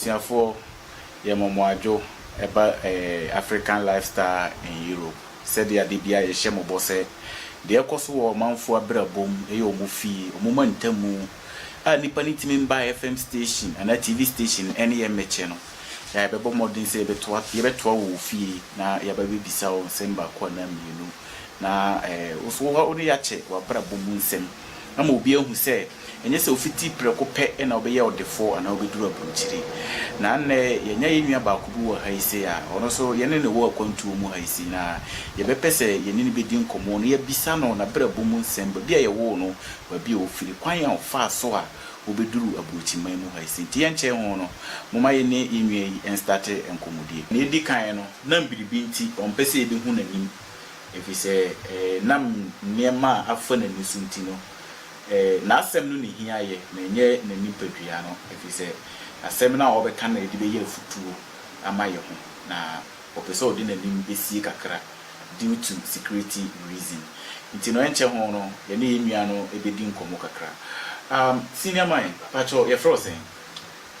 Abusuafoɔ yɛ mɔmɔadwo ɛba African lifestyle in Europe sɛdeɛ adeɛ biara yɛhyɛ mobɔ sɛ deɛ ɛkɔso wɔ ɔmanfoɔ abrabɔ mu ɛyɛ ɔmo fie ɔmo ma ntamu a nnipa no ntumi mba FM station anaa TV station ɛne yɛ mmɛkyɛ no yɛ a yɛbɛbɔ mmɔden sɛ yɛbɛtoa wo wɔ fie na yɛaba abɛbisa wo nsɛm baako anaa mmienu na wo nso wo ne yɛakyɛ w'abrabɔ mu nsɛm. ama obi ahu sɛ ɛnyɛ sɛ ofiti prɛko pɛ na wobɛyɛ ɔdefo anaa wobɛduru aburokyiri. Na nnɛ, yɛanya yɛn nua baako bi wɔ ha yi sei a ɔno nso yɛne no wɔ akwantuo mu ha yi sei, na yɛbɛpɛ sɛ yɛne no bɛdi nkɔmmɔ na yɛabisa no n'abrabɔ mu nsɛm, baabi a yɛwoo no, baabi a ɔfiri, kwan a ɔfaa so a ɔbɛduruu aburokyiman mu ha yi sei. Nti yɛnkyɛe ho no, momma yɛne yɛn nua yi nstate nkɔmmɔdie. Deɛ ɛdi kan no, na biribi nti ɔmpɛ sɛ yɛbɛhu n'anim. Efisɛ ɛnam nneɛma a afa n'ani so nti no, n'asɛm no na ehia yɛ, na ɛnyɛ ne nipadua no, efisɛ asɛm no a ɔbɛka no na yɛde bɛyɛ afotuo ama yɛn ho, na ɔpɛ sɛ ɔde n'anim sie kakra due to security reason. Nti no ɛnkyɛ ho no yɛne yɛn nua no bɛdi nkɔmmɔ kakra. Um, senior man, pakyɛw yɛfrɛ wo sɛn?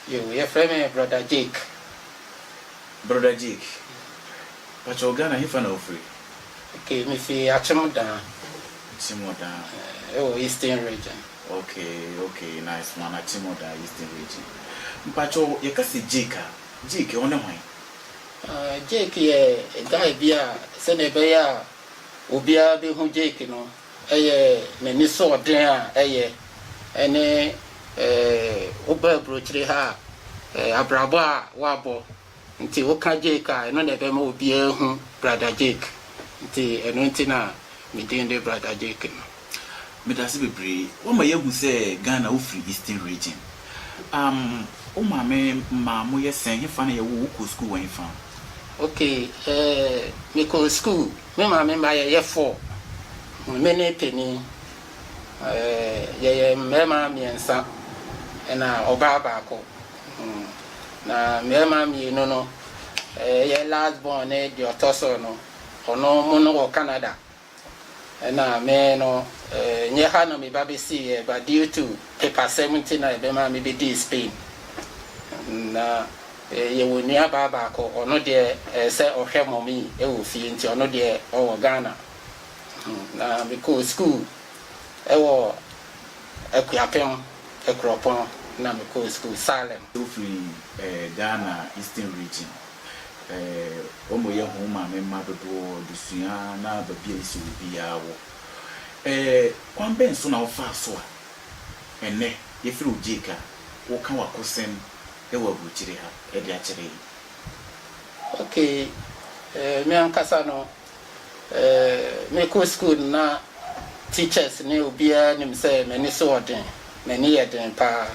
Yoo, yɛfrɛ me Brɔda Jake. Brother Jake, pakyɛw Ghana hefa na wofiri? Okay, me fi Akyem Daa. Akyem Daa. Ɛwɔ Eastern Region. Okay, okay, nice one, Akyem Daa, Eastern Region. Mpakyɛw, yɛka sɛ Jake a, Jake, ɔne hwan? Jake yɛ guy bi a sɛdeɛ ɛbɛyɛ a obiara bɛhu Jake no, Ɛyɛ n'anisoɔden a ɛyɛ ne woba aburokyire ha a, abrabɔ a woabɔ nti woka Jake a, ɛno na ɛbɛma obiara ahu Brada Jake. Nti ɛno nti na me din de Brada Jake no. Medase bebree. Woama yɛahu sɛ Ghana wofiri Eastern Region. Um wo maame maa moyɛ sɛn? Hefa na yɛwoo wo? Wokɔɔ sukuu wɔ hefa? Okay, eh, mekɔɔ sukuu Me maame mma yɛyɛ four, me ne panin. Yɛyɛ mmarima mmiɛnsa ɛna ɔbaa baako. Na mmarima mmienu no, yɛ last born ne deɛ ɔtɔ so no, ɔno wɔn no wɔ Canada. Ɛna me no, ɛnyɛ ha na meba bɛsiiɛ, but due to papasɛm nti na ɛbɛmaa mebɛdii Spain. Na Yɛwɔ nuabaa baako, ɔno deɛ ɛyɛ sɛ ɔhwɛ mummy wɔ fie nti ɔno deɛ ɔwɔ Ghana. Na mekɔɔ sukuu wɔ Akuapem, Akuropɔn na mekɔɔ sukuu Salem. Wofiri Ghana Eastern Region. Wɔn na wɔyɛ ho maame mma dodoɔ de sua na baabi a yɛsɛ obiara wɔ. Kwan bɛn so na wofaa so a ɛnnɛ yɛfrɛ wo Jake a woka w'akosɛm wɔ aburukyiri ha de akyerɛ yi. Okay, eh, me ankasa no, eh, mekɔ school no na teachers ne obiara nim sɛ m'ani so wɔ den, m'ani yɛ den paa.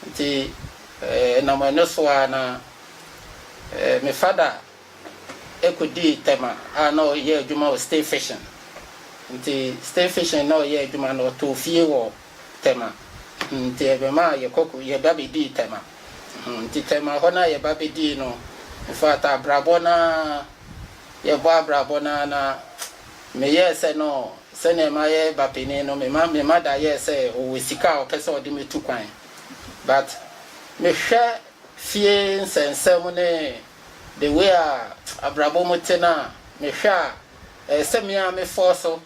Nti, eh, ɛnam ɛno so ara na, eh, me fada kɔdii Tema a na ɔyɛ adwuma wɔ State Fishing. Nti, State Fishing na ɔyɛ adwuma no, ɔtɔɔ fie wɔ. Tema. Nti ɛbɛmaa yɛ kɔkɔ yɛba bɛdii Tema. Nti Tema hɔ no a yɛba bɛdii no, infact abrabɔ no ara, yɛbɔ abrabɔ no ara na meyɛɛ sɛ no sɛdeɛ mayɛ ba panin no, me mother yɛɛ sɛ ɔwɔ sika a ɔpɛ sɛ ɔde me tu kwan. But mehwɛ fie nsɛnsɛm ne the way a abrabɔ mu te no a, mehwɛ a ɛyɛ sɛ me ara mefɔɔ so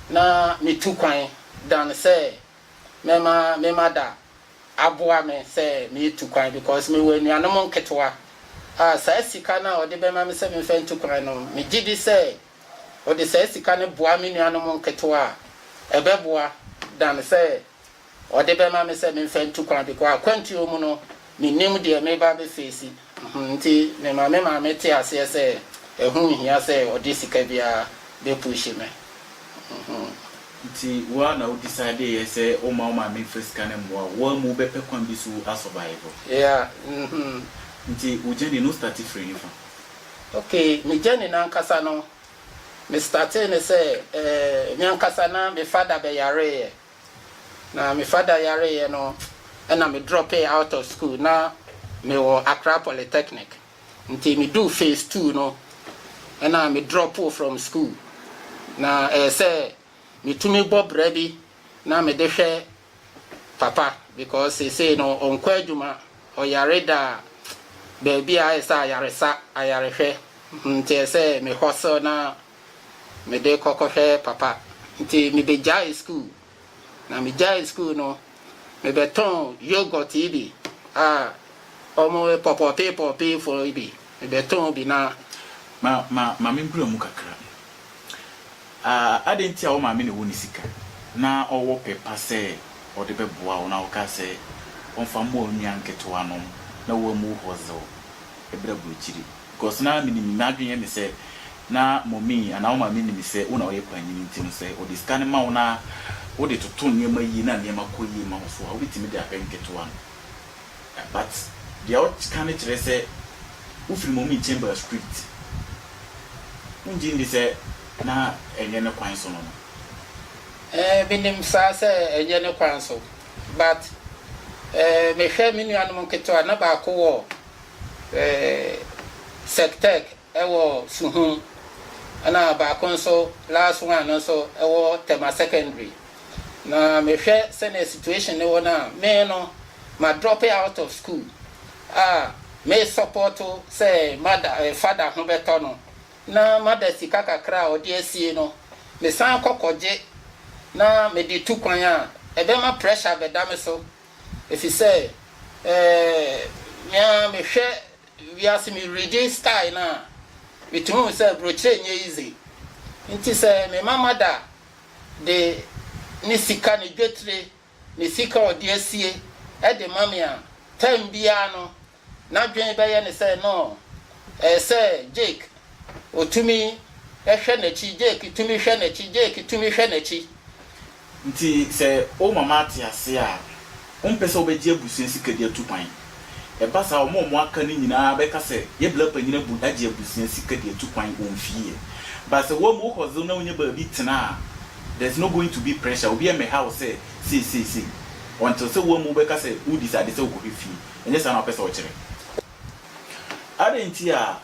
na metu kwan dan sɛ mɛma me mada aboa me sɛ metu kwan because mewɔ anuanom nketewa a saa sika no a ɔde bɛma me sɛ memfa ntu kwan no, megye di sɛ ɔde saa sika no boa me nuanom nketewa a, ɛbɛboa dan sɛ Ɔde bɛma me sɛ memfa ntu kwan because akwantuo mu no mennim deɛ meba abɛfeesi mm-hmm nti mema me maame te aseɛ sɛ ɛho nhia sɛ ɔde sika biara bɛpuuhyi me mm-hmm. Nti wo ara na wo decideeɛ sɛ womma wo maame mfa sika no mmoa wo, woammu wobɛpɛ kwan bi so a survive? Yeah mm-hmm. Nti wo journey no wo starte firi hefa? Okay, me journey no ankasa no Me startee ne sɛ eh me ankasa na me father bɛ yareeɛ na me father yareeɛ no ɛna me dropee out of school na me wɔ Accra polytechnic nti me duu phase two no ɛna me dropoo from school na ɛyɛ sɛ me tumi bɔ bra bi na mede hwɛ papa because seesei no ɔnkɔ adwuma, ɔyare daa, baabi a ayɛ sɛ ayaresa, ayarehwɛ, nti ɛsɛ sɛ me hustle na mede kɔ kɔhwɛ papa. Nti mebɛgyaee school, na megyaee school no, mebɛtɔn yoghurt yi bi a wɔpɔpɔpee pɔpee fɔ yi bi, mebɛtɔn bi na. Ma ma ma menbura mu kakra. Ah, adɛn nti a wo maame na ɛwɔ ne sika, na ɔwɔ pɛ pa sɛ ɔde bɛboa wo, na wokaa sɛ ɔmfa mmoa wo nua nketewanom na woammu hɔ dze wo brɛ aburokyiri? Because na menim, m'adwene yɛ me sɛ na Mɔmii anaa wo maame nim sɛ wo na woyɛ panyin nti no, sɛ ɔde sika no ma wo na wode toto nneɛma yie na nneɛma kɔ yie ma wo so a, wobɛtumi de abɛ nketewa no. But deɛ woka no kyerɛ sɛ wofiri Momin Chambers Street. Wongye ndi sɛ na ɛnyɛ ne kwan so no no? Eh, menim saa sɛ ɛnyɛ ne kwan so. But eh, mehwɛ me nuanom nketewa, na baako wɔ eh, Sectec, wɔ Suhum na baako nso last one no nso wɔ Tema Secondary na mehwɛ sɛnea situation no wɔ no a me no ma drop out of school a me support sɛ mada father ho bɛtɔ no na mada sika kakra a ɔde asie no me san kɔ kɔgye na mede tu kwan a ɛbɛma pressure bɛda me so efisɛ eh, mea mehwɛ Wiase me regye style no a metumi hu sɛ brokyerɛ nyɛ easy nti sɛ me mama da de ne sika ne dwetire ne sika a ɔde asie de ma me a time biara no n'adwene bɛyɛ ne sɛ no ɛyɛ sɛ Jake ɔtumi hwɛ n'akyi Jake tumi hwɛ n'akyi Jake tumi hwɛ n'akyi Ntsi sɛ wo mama atse ase a, ommpɛ sɛ wobɛgye ebusua sika de atu kwan. Ɛba saa a, wɔn a wɔaka no nyina ara bɛka sɛ, Yebla panyin abu agye ebusua sika de atu kwan wɔ mfie. But sɛ woamu wo hustle na wonya baabi tsena a, there's no going to be pressure, obiara mmɛha wo sɛ sei sei sei until sɛ woamu wo bɛka sɛ wo decide sɛ wokɔhwɛ fie. Ɛnyɛ saa na wopɛ sɛ ɔkyerɛ? Adɛn nti a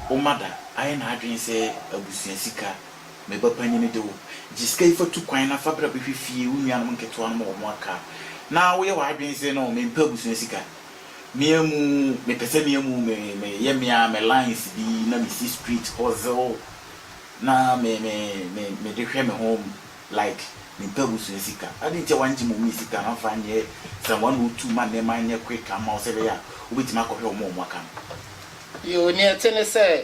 Woma da ayɛ n'adwene sɛ abusua sika Me ba panyin de wo gye sika yi fa tu kwan na fa bra bɛhwɛ fie wo nuanom nketewa no ma wɔn aka na woyɛ w'adwene sɛ no me mpɛ abusua sika me amu me pɛ sɛ me amu me me yɛ me a me lines bi na me si street hustle na me me me me de hwɛ me ho like me mpɛ abusua sika ade nti a wɔn gye mom yi sika no amfa nyɛ sɛ wɔn ano tu ma nneɛma nyɛ quick ama wo sɛ bɛyɛ a wobɛtumi akɔhwɛ wɔn a wɔn aka no. Yiw, nea ɛte ne sɛ,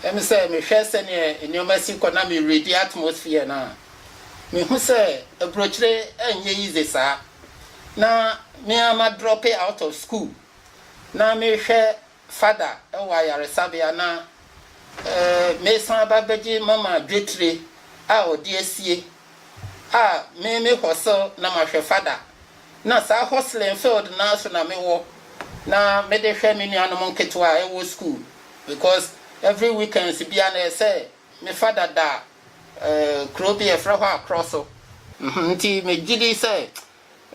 ɛne sɛ mehwɛ sɛnea nneɛma si kɔ na mereadi atmosphere no a, mihu sɛ aburokyire nyɛ yize saa. Ná me ara madrɔpe out of school. Ná merehwɛ fada wɔ ayaresabea na meresan aba abegye mama dwetire a ɔde asie a me me hosel na mahwɛ fada na saa hoseling field no ara so na me wɔ na me de hwɛ me nuanom nketewa a ɛwɔ school because every weekends biara na ɛsɛ me fada da eh kuro bi a yɛfrɛ hɔ akorɔ so nti me gyidi sɛ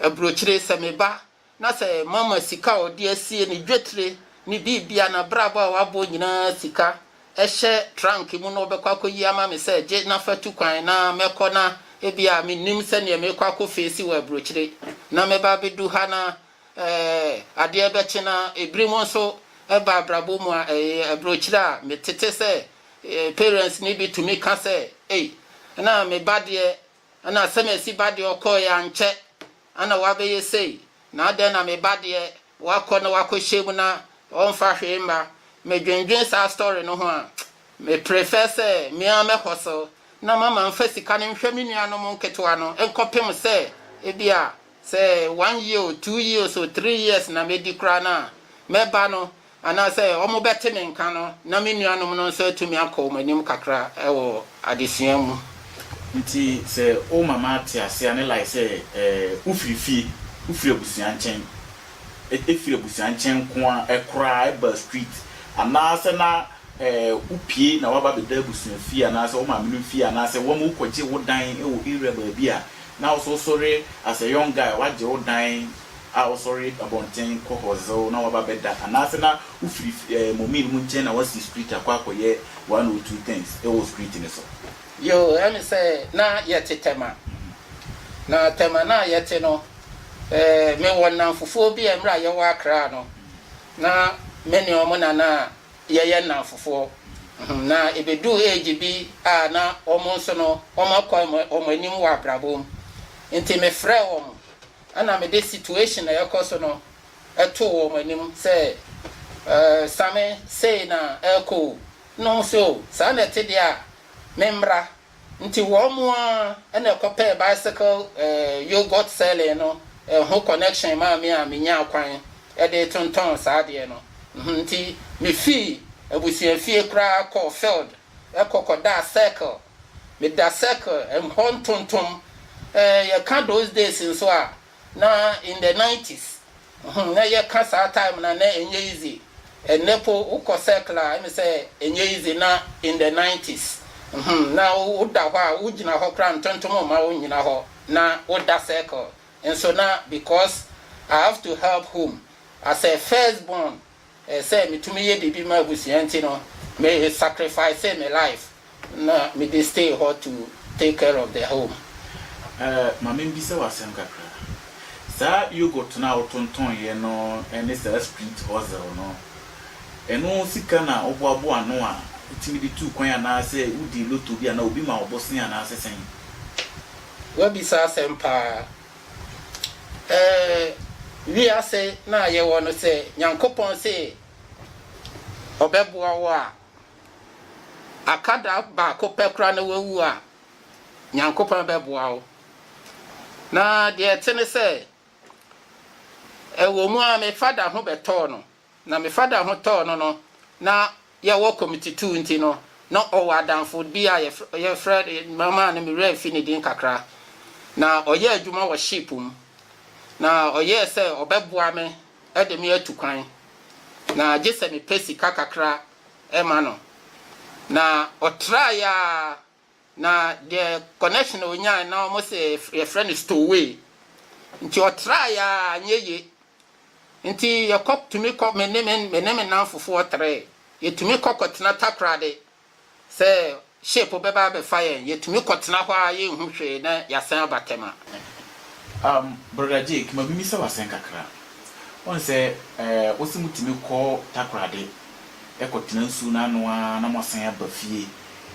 abrokyire sɛ me ba Na sɛ moama sika a ɔde asie, ne dwetire, ne biribia, n'abrabɔ a wabɔ nyinaa sika, hyɛ trunk mu na ɔbɛkɔ akɔyi ama me sɛ, Gye na fa tu kwan na mɛkɔ na ebia mennim sɛdeɛ merekɔ akɔ feesi wɔ aburokyire na mɛba abɛdu ha na ɛɛ adeɛ bɛkye na ebinom nso ba abrabɔ mu a ɛyɛ aburokyire a metete sɛ parents no bi tumi ka sɛ, Ei, na me ba deɛ Ɛna Semesi ba deɛ ɔkɔɔeɛ ankyɛ na wabɛyɛ sei, na adɛn na me ba deɛ wakɔ na wakɔ hyɛ mu na ɔmfa hwee mma, me dwendwen saa story no ho a, me prefer sɛ me ara mɛ hustle na mama nfa sika no nhwɛ me nua nom nketewa no nkɔpem sɛ ebia sɛ one year o, two years o, three years na mɛdi koraa no a, mɛba no Anaasɛ wɔbɛte me nka no na me nuanom no nso atumi akɔ wɔn anim kakra wɔ adesua mu. Enti sɛ wo mama te ase a, ne like sɛ wofiri fie, wofiri abusua nkyɛn, efiri abusua nkyɛn nko ara koraa ɛba street, anaasɛ na wopue na woaba abɛda abusua fie anaasɛ wo maamenom fie anaasɛ wɔma wokɔgye wo dan wɔ area baabi a, na wo nso wosɔre as a young guy woagye wo dan, a ɔsɔre abɔnten kɔ hɔzew na waba bɛda anaasɛ na wofiri ɛɛ mɔmii no mu nkyɛn na wasi street akɔ akɔyɛ one or two things wɔ street no so. Yoo ɛmi sɛ na yɛte tɛma na tɛma no a yɛte no ɛɛ me wɔ nnamfofoɔ bi a mmerɛ a yɛwɔ akra no na me ne wɔn na na yɛyɛ nnamfofoɔ hmm na ɛbɛduu age bi a na wɔn nso no wɔn akɔ wɔn anim wɔ abrabɔ mu nti me frɛɛ wɔn Ɛna me de situation a ɛkɔ so no too wɔn anim sɛ Same sei na ɛrekɔ o, na wɔn se o saa na ɛte deɛ a me mmra. Nti wɔn ara na ɛkɔpɛɛ bicycle yoghurt selling no ho connection maa me a me nyaa kwan de tontɔn saa adeɛ no. Nti me fii abusua fie koraa kɔɔ field. Ɛkɔ kɔdaa circle, meda circle ɛm hɔ ntontom eh, yɛka those days nso a na in the nineties hmm na yɛka saa time no a na ɛnyɛ easy, ɛnnɛ po wokɔ circle a ɛne sɛ ɛnyɛ easy na in the nineties hmm na woda hɔ a wogyina hɔ koraa ntontom mma wo nnyina hɔ na woda circle nso na because I have to help home as a first born Sɛ metumi yɛ biribi ma abusua nti no me sacrificee me life na mede stay hɔ to take care of the home. Eh, ma membisa wo asɛm kakra. Saa yoghurt no a wotontɔn'eɛ no ne saa sprit ozel no, ɛno sika na woboaboa ano a wotumi de tuu kwan anaasɛ wodii lotto bi anaa obi ma wo bosea anaasɛ sɛn? Woabisa asɛm paa. Ɛɛ wiase no a yɛwɔ no sɛ Nyankopɔn se ɔbɛboa wo a, aka da baako pɛ koraa na woawu a, Nyankopɔn bɛboa wo. Na deɛ ɛte ne sɛ, ɛwɔ mu ara me fada ho bɛtɔɔ no, Na me fada ho tɔɔ no no, na yɛwɔ committee two nti no, na ɔwɔ adamfo bi a yɛfrɛ no, mɛma no me werɛ afi ne din kakra. Na ɔyɛ adwuma wɔ ship mu. Na ɔyɛɛ sɛ ɔbɛboa me de me atu kwan. Na gye sɛ mepɛ sika kakra ma no. Na ɔtraeɛ ara Na deɛ connection a ɔnyae na wɔn sɛ yɛfrɛ no stowaway nti ɔtraeɛ a anyɛ yie nti yɛkɔ tumi kɔ me ne me me ne me nanfofoɔ trɛɛ yɛtumi kɔ kɔtena takorade sɛ ship bɛba abɛfa yɛn yɛtumi kɔtena hɔ a yɛnhu hwee na yɛasan aba tɛma. Um, Brother Jake, ma mimisa wo asɛm kakra. Wohu sɛ eh, wose motumi kɔ Takorade kɔtena nsuo no ano ara na moasan aba fie.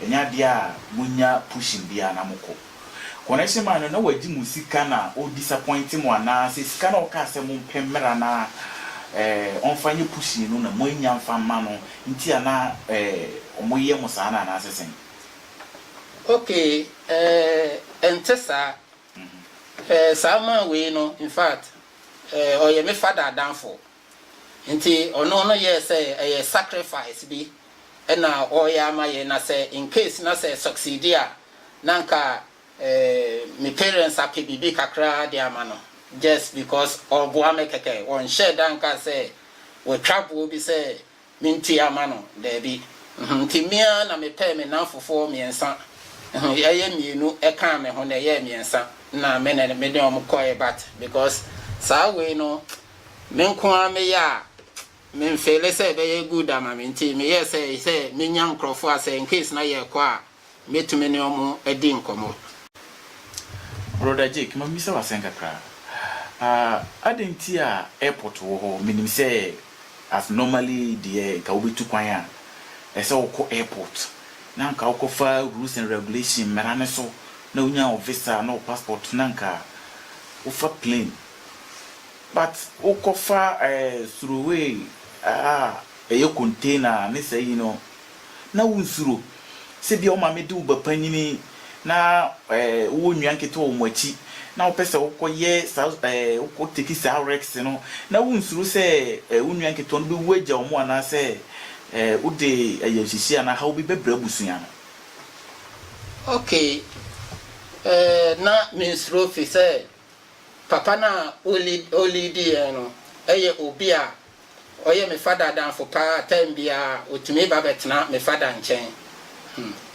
Ɛnyɛ adeɛ a monya pushing biara na mokɔ. Connection man no na wagye mo sika na ɔ disappoint mo anaa sɛ sika no a ɔkaa sɛ mompɛ mmra na eh, ɔmfa nyɛ pushing no na moannya mfa mma no nti a na eh, wɔyɛ mo saa no anaa sɛ sɛn? Okay eh, ɛnte saa. Eh, saa man wei no, in fact eh, ɔyɛ me father adamfo. Nti ɔno no yɛɛ sɛ ɛyɛ sacrifice bi na ɔreyɛ ama yɛn na sɛ in case na sɛ succeed a na anka me parents apɛ biribi kakra de ama no just because ɔreboa me kɛkɛ wɔnhyɛɛ da nkaa sɛ watwa boɔ bi sɛ Mente ama no, dabi. Enti me ara na mepɛɛ me nnamfofoɔ mmiɛnsa, ɛyɛ mmienu kaa me ho na ɛyɛɛ mmiɛnsa, na me na me ne wɔn kɔeɛ but because saa wei no me nko ara meyɛ a, menfeele sɛ ɛbɛyɛ good ama me nti meyɛɛ sɛ sɛ menya nkurɔfoɔ a sɛ incase na yɛrekɔ a, Mɛtumi ne wɔn adi nkɔmmɔ. Brɔda Jake, ma memmisa wo asɛm kakra. Ah, adɛn nti a airport wɔ hɔ? Menim sɛ as normally deɛ nka wobɛtu kwan a, ɛsɛ sɛ wokɔ airport, na nka wokɔfa rules and regulation, mmara no so, na wonya wo visa ne wo passport na nka wofa plane. But wokɔfa eh, suroway a ɛyɛ container ne saa yi no, na wonsuro. Sɛ ebia wo maame de wo ba panyin na wowɔ nnua nketewa wɔ mo akyi na wopɛ sɛ wokɔyɛ saa ɛɛ wokɔ teki saa risks no na wonsuro sɛ wo nnua nketewa no bɛwu agya wɔn anaasɛ wode ayamhyehyeɛ anaa haw bi bɛbrɛ abusua no. Okay, ɛɛ na mensuro efisɛ papa no a ɔliidi yɛn no yɛ obi a Ɔyɛ me fada adamfo paa, time biara otumi ba bɛtena me fada nkyɛn.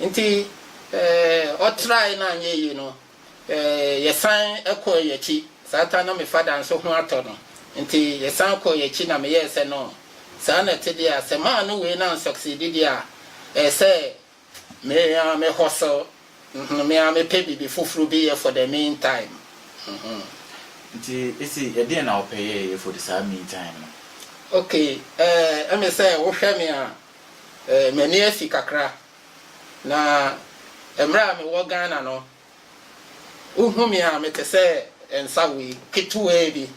Nti ɔtrae na anyɛ yie no, yɛsan kɔɔ yɛn akyi. Saa time na me fada nso ho atɔ no, nti yɛsan kɔɔ yɛn akyi na meyɛɛ sɛ no, saa na ɛte deɛ a, sɛ manno wei na ansucceedi deɛ a, ɛyɛ sɛ Me ara me hustle, mm-hmm, me ara mepɛ biribi foforo bi yɛ for the mean time, mm-hmm. Nti ese ɛdeɛn na wopɛ yɛ yɛ for the saa mean time no? Okay, eh, ɛme sɛ wohwɛ me a, eh, m'ani afi kakra. Na mmerɛ a mewɔ Ghana no, Wohu me a, mete sɛ nsawee ketewaa bi.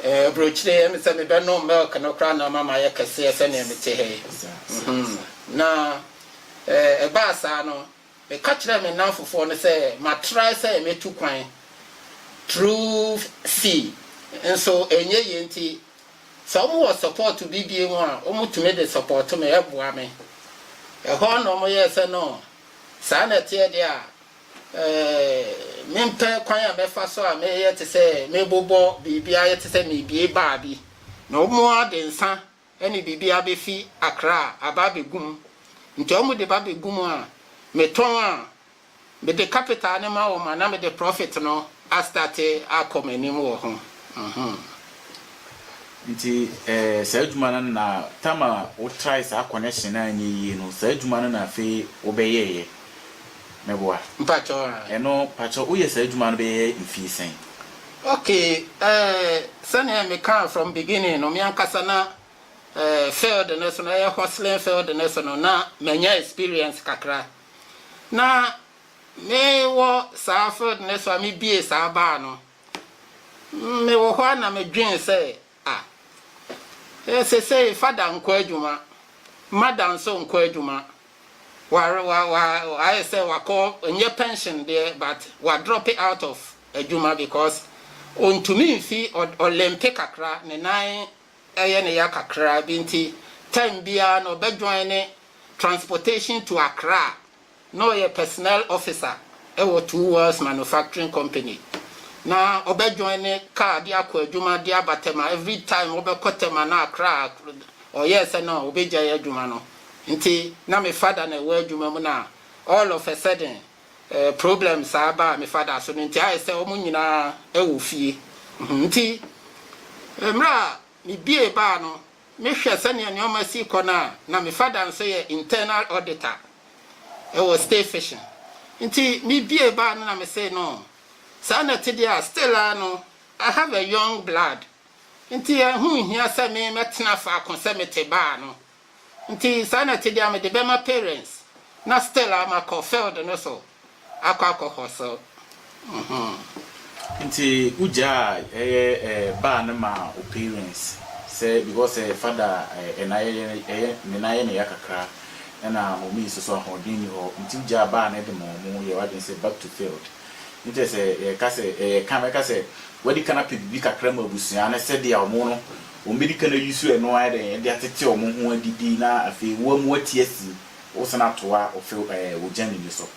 Aburokyire yɛ me sɛ mebɛnom milk no koraa na ama mayɛ kɛseɛ sɛdeɛ mete ha yi. Na ɛbaa saa no, meka kyerɛɛ me nnamfofoɔ no sɛ matrae sɛ mɛtu kwan through sea nso ɛnyɛ yie nti sɛ wɔwɔ support bi bio a wɔtumi de support me, ɛboa me. Ɛhɔ na wɔyɛɛ sɛ no Saa na ɛteɛ deɛ a, mempɛ kwan a mɛfa so a mɛyɛ te sɛ mebobɔ biribi ayɛ te sɛ merebue baa bi, na wɔn ara de nsa ne biribi abɛfi Accra aba abɛgu mu. Nti wɔde ba bɛgu mu a, metɔn a, mede capital no ma wɔn anaa mede profit no astate akɔ m'anim wɔ ho mm-hmm. Nti eh, saa adwuma no na tam a wo try saa connection no anyɛ yie no saa adwuma no na afei wo bɛ yɛɛyɛ mɛboa? Mpakyɛw ah. Ɛno pakyɛw wo yɛ saa adwuma no bɛ yɛ mfie sɛn? Ok eh, sɛnea me kaa from beginning no me ankasa na eh, field no so no ɛyɛ hustling field no so no na manya experience kakra na Me wɔ saa field no so a me bie saa bar no, me wɔ hɔ a na me dwen sɛ ah, eh sesei father nkɔ adwuma, mother nso nkɔ adwuma, wa wa wa ayɛ sɛ wakɔ nyɛ pension deɛ but wa drop out of adwuma because ontumi nfi ɔlempe kakra ne nan ɛyɛ ne ya kakra bi nti time biara no ɔbɛ join ne transportation to Accra Na ɔyɛ personnel officer wɔ Two Worlds Manufacturing Company. Na ɔbɛ joine car de akɔ adwuma de aba Tema. Every time ɔbɛkɔ Tema na Accra a ɔyɛɛ sɛ na ɔbɛgyae adwuma no. Nti na me father na ɛwɔ adwuma mu na all of a sudden problem saa baa me father so no nti ayɛ sɛ wɔn nyinaa wɔ fie. Nti mmerɛ a. Mibiee baa no, mehwɛ sɛnea nneɛma si kɔ no a, na me fada nso yɛ internal auditor wɔ State Fission. Nti mibiee baa no na mesee no, Saa na ɛte deɛ a, still ara no, I have a young blood, nti ɛho nhia sɛ me mɛtena faako sɛ mete baa no. Nti saa na ɛte deɛ mede bɛma parents na still a makɔ field no so akɔ akɔ hustle mm-hmm. Nti wo gyaa ɛyɛ eh baa no maa wo parents sɛ because eh father eh na yɛ ɛyɛ ne nan yɛ ne ya kakra ɛna mommy nso so ahoɔden nni hɔ nti wo gyaa baa no de ma ɔmo yɛ w'adwene sɛ back to field ne kyerɛ sɛ yɛka sɛ eh yɛka mɛka sɛ w'adi kan apɛ biribi kakra ma abusua no sɛdeɛ ɔmo no Wɔbɛdi kan ayi so ɛno ayɛ dɛn de atete wɔn ho adidi na afei wo amu ati asi wo sane atoa wo few ɛɛ wo gyami no so.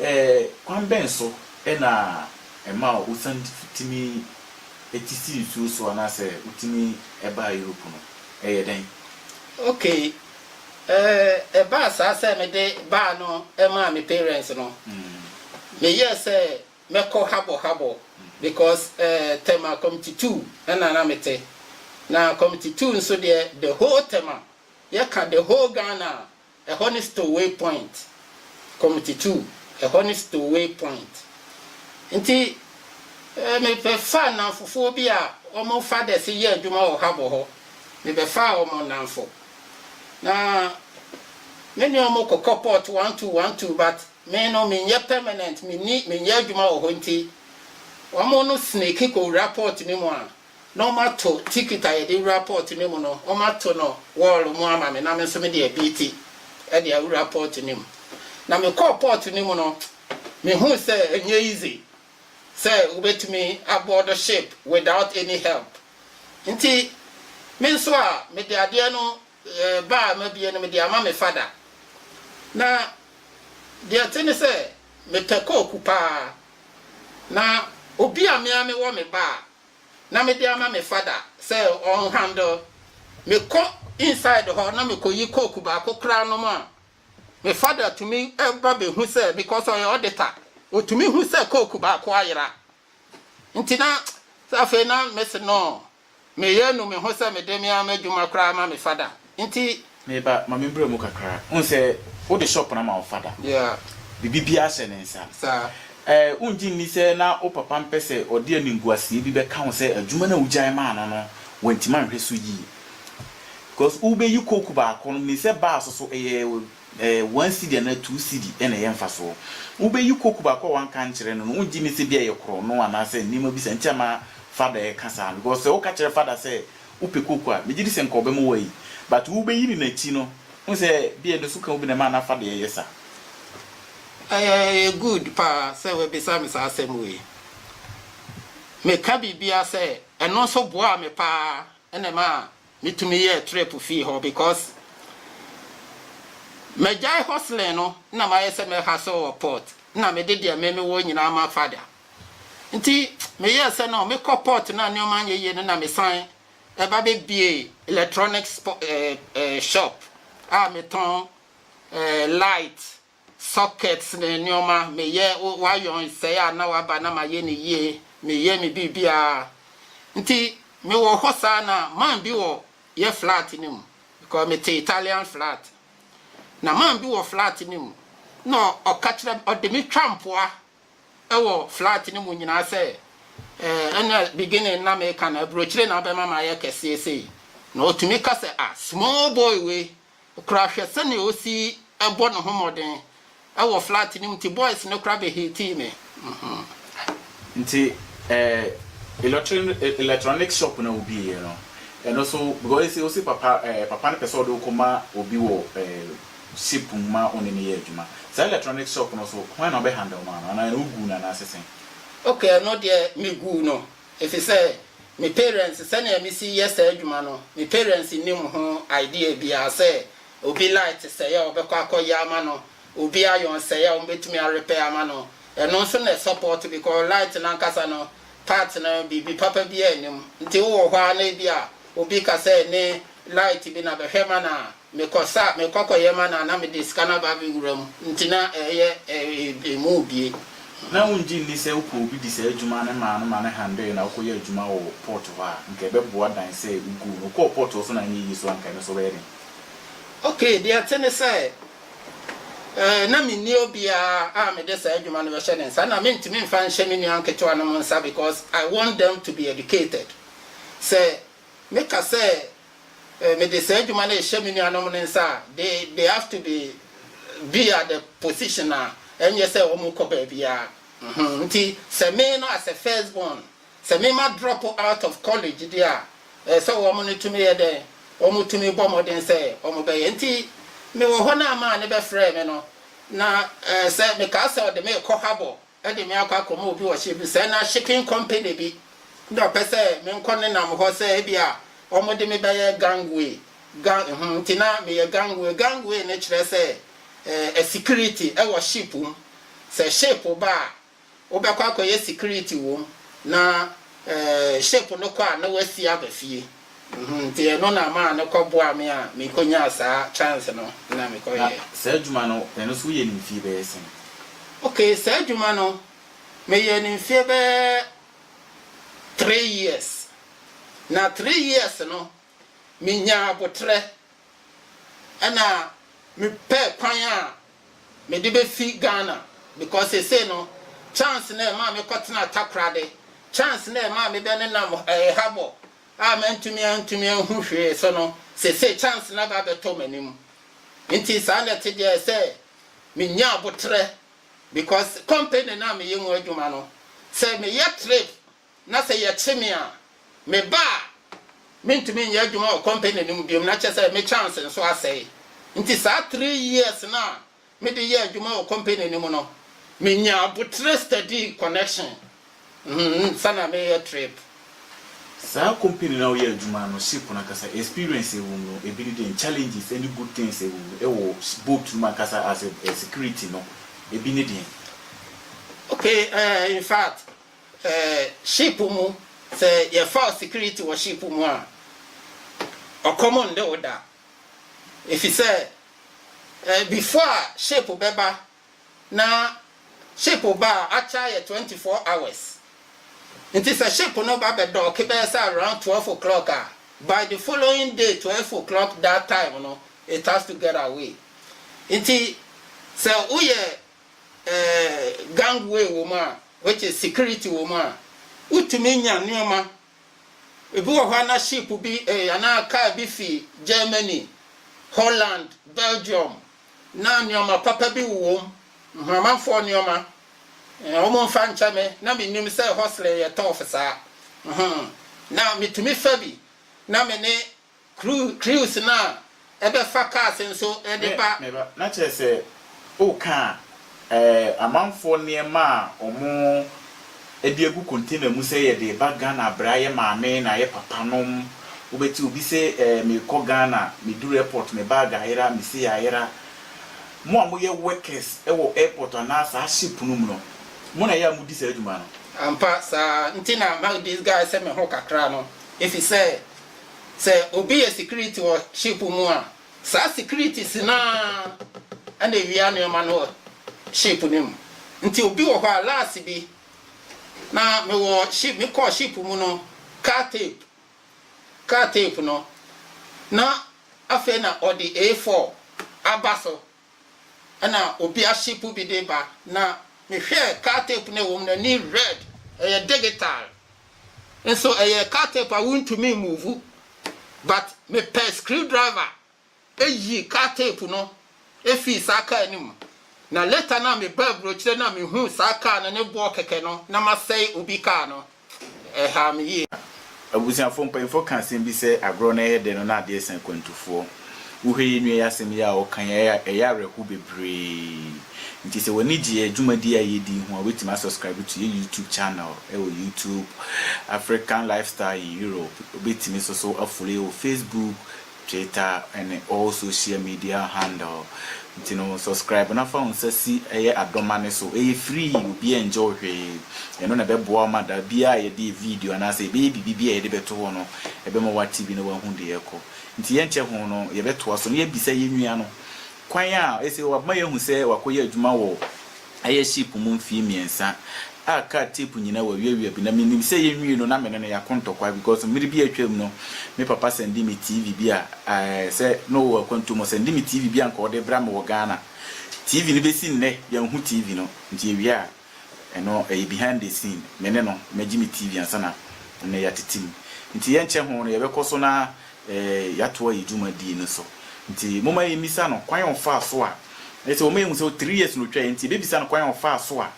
Ɛɛ kwan bɛn so na ɛma wosane tumi ti si nsuo so anaasɛ wotumi ba Europe no? Ɛyɛ dɛn? Okay ɛɛ ɛbaa saa sɛ mede baa no maa me parents no meyɛɛ sɛ mɛkɔ habɔ habɔ because eh Tema committee two ɛna na mete na committee two nso deɛ the whole Tema yɛka the whole Ghana a ɛhɔ ne stowaway point committee two ɛhɔ ne stowaway point nti eh mebɛ fa nnamfofoɔ bi a wɔn fa dɛse yɛ adwuma wɔ habɔ hɔ mebɛ faa wɔn nnamfo na me ne wɔn kɔ kɔ port one two one two but Me no menyɛ permanent menni menyɛ adwuma wɔ hɔ nti wɔn no snake kɔ wura port no mu a na wɔn ato ticket a yɛde wura port no mu no wɔn ato no wall mu ama me na me nso mede abiiti ɛde awura port no mu na me kɔɔ port no mu no me hu sɛ ɛnyɛ easy sɛ wobɛtumi aboard ship without any help nti me nso a mede adeɛ no Yɛ ba a mabie no mede ama me fada. Na deɛ ɛte ne sɛ mepɛ kooku paa. Na obi a me ara mewɔ me ba a na mede ama me fada sɛ ɔn handle. Me kɔ inside hɔ na me kɔyi kooku baako koraa nom a, me fada tumi ba bɛhu sɛ, because ɔyɛ auditor, ɔtumi hu sɛ kooku baako ayera. Nti na sɛ afei na mese no meyɛ nu me ho sɛ mede me ara m'adwuma koraa ma me fada nti. Meba, ma membra mu kakra. Wohu sɛ wode shop no ama wo fada. Yeah. Biribibiara hyɛ ne nsa. Saa. Eh, wongye nni sɛ na wo papa mpɛ sɛ ɔde animguaseɛ bi bɛka wo sɛ adwuma no a wogyae maa no no wantumi anhwɛ so yie? Because wobɛyi coke baako no, menim sɛ baa so so ɛyɛ. Eh, one cedi anaa two cedi na ɛyɛ mfasoɔ. Wobɛyi coke baako a wanka ankyerɛ no no, wongye nni sɛ bi a ɛyɛ korɔno anaasɛ nneɛma bi saa nti ama father ɛreka saa no? Because sɛ woka kyerɛ father sɛ wopɛ coke a, megye di sɛ nka ɔbɛma woayi. But wobɛyi no n'akyi no, wohu sɛ bi a ɛno so ka wo bi na ɛma na father ɛyɛ saa. Ɛyɛ, ɛyɛ good paa sɛ woabisa me saa asɛm wei. Meka biribi ara sɛ, ɛno nso boaa me paa na ɛmaa Me tumi yɛɛ trip fii hɔ because magyae hustling no na mayɛ sɛ mɛ hustle wɔ port na mede deɛ me me wɔ nyinaa ma father nti me yɛɛ sɛ no me kɔ port na nneɛma nyɛ yie no na me san ɛba bɛ bie electronics eh, eh, shop a me tɔn eh, light Sockets ne nneɛma, meyɛ iron sɛe a na waba na mayɛ no yie, meyɛ me biribiara. Nti mewɔ hɔ saa na man bi wɔ yɛ flat no mu because mete Italian flat. Na man bi wɔ flat no mu na ɔka kyerɛ me, ɔde me twa mpoa wɔ flat no mu nyinaa sɛ eh, ɛnna beginning na meka no aburokyire na abɛma mayɛ kɛseɛ sei. Na ɔtumi ka sɛ ah, small boy wei Koraa hwɛ sɛnea osi bɔ ne ho mmɔden wɔ flat no mu nti boys no koraa bɛ hatii me hmm. Nti eh electronic shop no a wobieɛ no ɛno so because ese wose papa eh papa no pɛ sɛ ɔde wo kɔma obi wɔ eh ship mu ma wone no yɛ adwuma saa electronic shop no so hwan na ɔbɛ handle maa no anaa ɛno woguu no anaase sɛn? Okay ɛno deɛ meguu no. Efisɛ me parents sɛnea mesi yɛ saa adwuma no me parents nnim ho idea biara sɛ obi light sɛe a ɔbɛkɔ akɔyɛ ama no obi iron sɛe a wɔbɛtumi a repair ama no ɛno nso na ɛsupport because light no ankasa no part no biribi papa biara nnim nti wowɔ hɔ ara na ebia obi ka sɛ ne light bi na bɛhwɛ ma no a Mekɔ sa mekɔ kɔ yɛ ma no a na mede sika no aba abɛ wura mu nti na ɛyɛ ɛmu bie. Na wongye nni sɛ wopɛ obi di saa adwuma no maa no ma no handle na wokɔ yɛ adwuma wɔ port hɔ a nka ɛbɛ boa dan sɛ woguu no wokɔɔ port hɔ so na anyɛ yie so a nka ɛno nso bɛyɛ den. Ok deɛ ɛte ne sɛ eh na me nni obiara a mede saa adwuma no bɛhyɛ ne nsa na me ntumi nfa nhyɛ me nua nketewa nom nsa because I want them to be educated sɛ meka sɛ Mede saa adwuma no rehyɛ me nuanom no nsa a, they they have to be be at the position a ɛnyɛ sɛ wɔn kɔ baabiara. Mm-hmm. Nti sɛ me no as a first born, sɛ me ma drop out of college deɛ a, ɛɛ sɛ wɔn no tumi yɛ dɛn? Wɔn tumi bɔ mmɔden sɛ wɔn bɛyɛ. Nti me wɔ hɔ na amaa ne bɛfrɛɛ me no, na ɛɛ sɛ mekaa sɛ ɔde me rekɔ Habor. de me akɔ akɔma obi wɔ hyɛ bi sɛ na shipping company bi na ɔpɛ sɛ menkɔ ne nam hɔ sɛ ebi a wɔde me bɛyɛ gangway gang ɛho nti na meyɛ gangway gangway no kyerɛ sɛ ɛɛ security ɛwɔ ship mu sɛ ship ba a wobɛkɔ akɔyɛ security wɔ mu na ɛɛ ship no kɔ a na wasi aba fie. Mm-hmm, nti ɛno na maa no kɔ boa me a me kɔ nyaa saa chance no na me kɔ yɛɛ. Na saa adwuma no ɛno nso wo yɛ no mfie bɛyɛ sɛn? Ok, saa adwuma no me yɛɛ no mfie bɛyɛ three years, na three years no me nyaa aboterɛ ɛna me pɛɛ kwan a me de bɛ fi Ghana because sesei no chance no a ɛmaa me kɔ tenaa Takorade, chance no a ɛmaa me bɛ ne nam ɛɛ Habɔ a mantumi antumi anhu hwee so no sesei chance no aba abɛtɔ m'anim nti saa na ɛte deɛ sɛ me nya aboterɛ because company no a me yɛ mu adwuma no sɛ me yɛ trip na sɛ yɛkye me a, meba a, mentumi nyɛ adwuma wɔ kɔmpani no mu biom, na kyerɛ sɛ me chance nso asɛe. Nti saa three years no a mede yɛɛ adwuma wɔ kɔmpani no mu no, menyaa aboterɛ study connection ansa na mereyɛ trip. Saa kɔmpani no a woyɛɛ adwuma no, ship no ankasa, experience a ɛwɔ mu no, ebi ne dɛn? Challenges ɛne good things a ɛwɔ mu wɔ boat no mu ankasa as a security no, ebi ne dɛn? Okay, eh, in fact, Eh ship mu sɛ yɛ faw security wɔ ship mu a ɔkɔm nde wo da efisɛ eh before a ship bɛba na ship ba a akya yɛ twenty four hours nti sɛ ship no ba bɛ dɔɔke bɛyɛ sɛ around twelve o'clock a by the following day twelve o'clock that time no it has to get away nti sɛ wo yɛ gangway wɔ mu a, which is security wɔ mu a, wotumi nya nneɛma. Ebi wɔ hɔ a na ship bi anaa kaa bi fi Germany, Holland, Belgium, na nneɛma papa bi wowɔ mu, Nhamanfoɔ nneɛma. Wɔmfa nkyɛ me, na mennim sɛ hustling yɛ tough saa. Na metumi fa bi na me ne Kru, crews no a ɛbɛfa cars nso de ba. Me ba, na kyerɛ sɛ woka eh, amanfoɔ nneɛma a wɔde agu container mu sɛ yɛde reba Ghana bra yɛ maame na yɛ papa nom. Wobɛte obi se eh, merekɔ Ghana, meduru airport me bag ayera, me sei ayera. Mo a moyɛ workers wɔ airport anaa saa ship no mu no, mo na ɛyɛ a modi saa dwuma no? Ampa saa, nti na ma disguise me ho kakra no, efisɛ. Sɛ obi yɛ security wɔ ship mu a, saa security si no ara na ewia nneɛma no wɔ ship no mu. Nti obi wɔ hɔ a, last bi na mewɔ ship, mekɔɔ ship mu no, car tape, car tape no, na afei na ɔde A4 aba so. Ɛna obi asepu bi de ba na me hwɛɛ car tape no a ɛwɔ mu no ani red ɛyɛ digital nso ɛyɛ car tape a wontumi move but me pɛ screw driver ɛyii car tape no ɛfii saa car no mu na later no a me baa aburokyire no a me huu saa car no ne boɔ kɛkɛ no na masɛe obi car no. Ɛhaa me yie. Abusuafoɔ mpanyinfoɔ ka asɛm bi sɛ agorɔ no ɛyɛ dɛ no na adeɛ sa akwantufoɔ. Wohwɛ yɛn nua yi asɛm yi a ɔka yi a ɛyɛ awerɛhow bebree. Nti sɛ w'ani gye yɛn dwumadie a yɛdi yi ho a wobɛtumi a subscribe to yɛn YouTube channel ɛwɔ YouTube, African Lifestyle in Europe. Wobɛtumi nso so a follow yɛn wɔ Facebook, Twitter ne all social media handle nti no subscribe na fa wo nsa si ɛyɛ adoma no so ɛyɛ free obiaa ngyɛ wo hwee ɛno na ɛbɛboa wo ma da biaa a yɛde yɛ video anaa sɛ yɛbɛyɛ biribi bi a yɛde bɛto hɔ no ɛbɛma w'ate bi na w'ahu deɛ ɛkɔ nti yɛnkyɛ ho no yɛbɛtoa so na yɛabisa yɛn nua no kwan a ɛsɛ w'abma yɛahu sɛ w'akɔyɛ adwuma wɔ ɛyɛ ship mu mfie mmiɛnsa a car tape nyinaa wawiawia bi na menim sɛ yɛnwie no na me ne no yɛako ntɔkwa because mmere bi a atwam no me papa sɛnde me TV bi a ɛɛ sɛ na ɔwɔ akwantu mu ɔsɛnde me TV bi a nka ɔde bra me wɔ Ghana TV no bɛsi nnɛ yɛnhu TV no nti yɛwie a ɛno ɛyɛ behind the scene me ne no magye me TV ansa na nnɛ yɛatete mu nti yɛnkyɛ ho no yɛbɛkɔ so na yɛatoa yɛn dwumadie no so. Nti momma yɛmmisa no kwan a ɔfaa so a, ɛsɛ wɔma yɛhu sɛ three years na ɔtwaeɛ, nti yɛbɛbisa no kwan a ɔfaa so a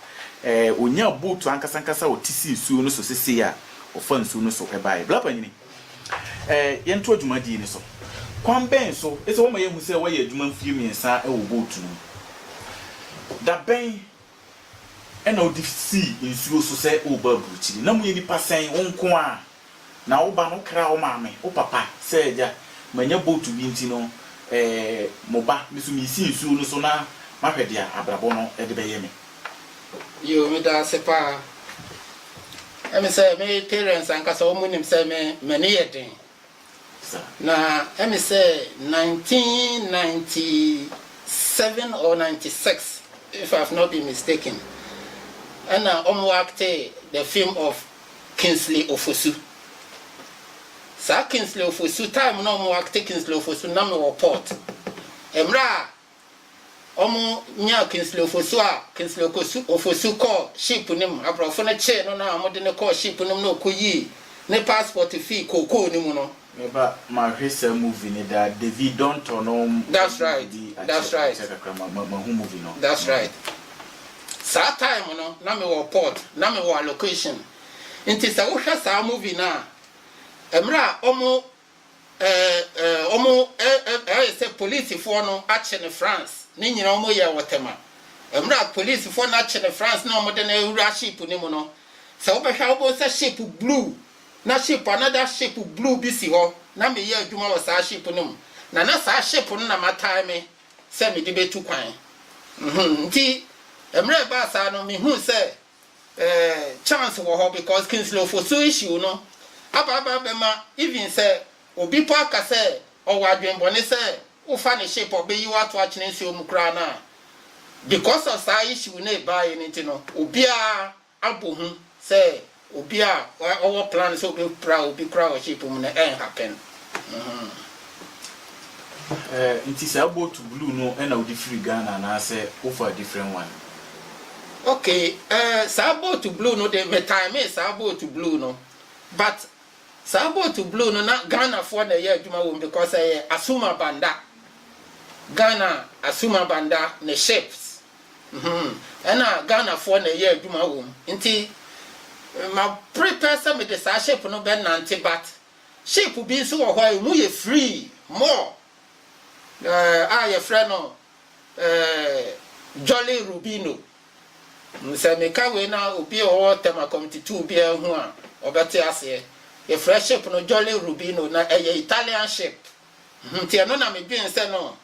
ɔnyaa boat ankasa ankasa a ɔte si nsuo no so sesei a ɔfa nsuo no so baeɛ. Bla Panyini, yɛntoa dwumadie no so. Kwan bɛn so? Ɛsɛ wɔma yɛhu sɛ woayɛ adwuma mfeɛ mmiɛnsa wɔ boat no mu. Da bɛn? Ɛnna ɔde sii nsuo so sɛ ɔreba aburukyiri. Na moyɛ nnipa sɛn? Wo nko ara, na wo ba no, wokraa wo maame, wo papa, sɛ agya. Mannya bootu bi nti no, ɛɛ, mo ba, me nso meresi nsuo no so na mahwɛ deɛ abrabɔ no de bɛyɛ me. Yiw, meda ase paa. Ɛne sɛ, me parents ankasa wɔnim sɛ me, m'ani yɛ den. Na ɛne sɛ nineteen ninety seven or ninety six if I have not been mistaken ɛna wɔn acte the film of Kingsley Ofosu. Saa Kingsley Ofosu time no a wɔn acte Kingsley Ofosu no na mewɔ port. Mmerɛ a Ɔmo nyaa Kingsley Ofosu a Kingsley Okosu Ofosu kɔɔ ship no mu. Abrɔfo no kyee no na ɔmo de no kɔɔ ship no mu na ɔkɔ yii ne passport fii kookoo no mu no. Me ba ma hwe saa movie no daa David don tɔ no wo movie That's right bi that's akyɛ right akyɛ kakra ma ma ma hu movie no that's movie right saa time no na me wɔ port na me wɔ allocation nti sɛ wo hwɛ saa movie no a ɛmere a ɔmo Ɛɛ ɛɛ ɔmo ɛ ɛ ɛyɛ sɛ polisifoɔ no akye no France ne nyina ɔmo yɛɛ wɔ tɛma ɛmerɛ a polisifoɔ no akye no France na ɔmo de no awura ship no mu no sɛ wo bɛhwɛ a wo bohu sɛ ship blue na ship another ship blue bi si hɔ na me yɛ adwuma wɔ saa ship no mu na na saa ship no na ma tae me sɛ me de bɛ tu kwan mhm nti ɛmerɛ ɛbaa saa no me huu sɛ eh, chance wɔ hɔ because Kingsley Ofosu issue no aba aba abɛma even sɛ obi po aka sɛ ɔwɔ adwenbɔne sɛ wofa ne ship a ɔbɛyi wo ato akyene nsuo mu koraa no a because of saa issue no ɛbaeɛ no nti no obiara abɔ hu sɛ obi a ɔwɔ plan sɛ ɔbɛpra obi koraa wɔ ship mu no ɛnhappen. Mm-hmm. Eh nti saa boat blue no na wode firi Ghana anaasɛ wofa a different one? Okay eh saa boat blue no de me timee saa boat blue no but saa boat blue no na Ghana foɔ na ɛyɛ adwuma wɔ mu because ɛyɛ Asuma Banda Ghana Asuma Banda ne ships hmm ɛna Ghana foɔ na ɛyɛ adwuma wɔ mu nti ma prepare sɛ mede saa ship no bɛ nante but Ship bi nso wɔ hɔ a ɛmu yɛ free, more, eh, a yɛfrɛ no eh, Jolly Rubino. Mm, Sɛ meka wei na obi a ɔwɔ Temakom titoo biara hu a, ɔbɛte aseɛ. Yɛfrɛ ship no Jolly Rubino, na ɛyɛ Italian ship. Nti ɛno na me dwen sɛ no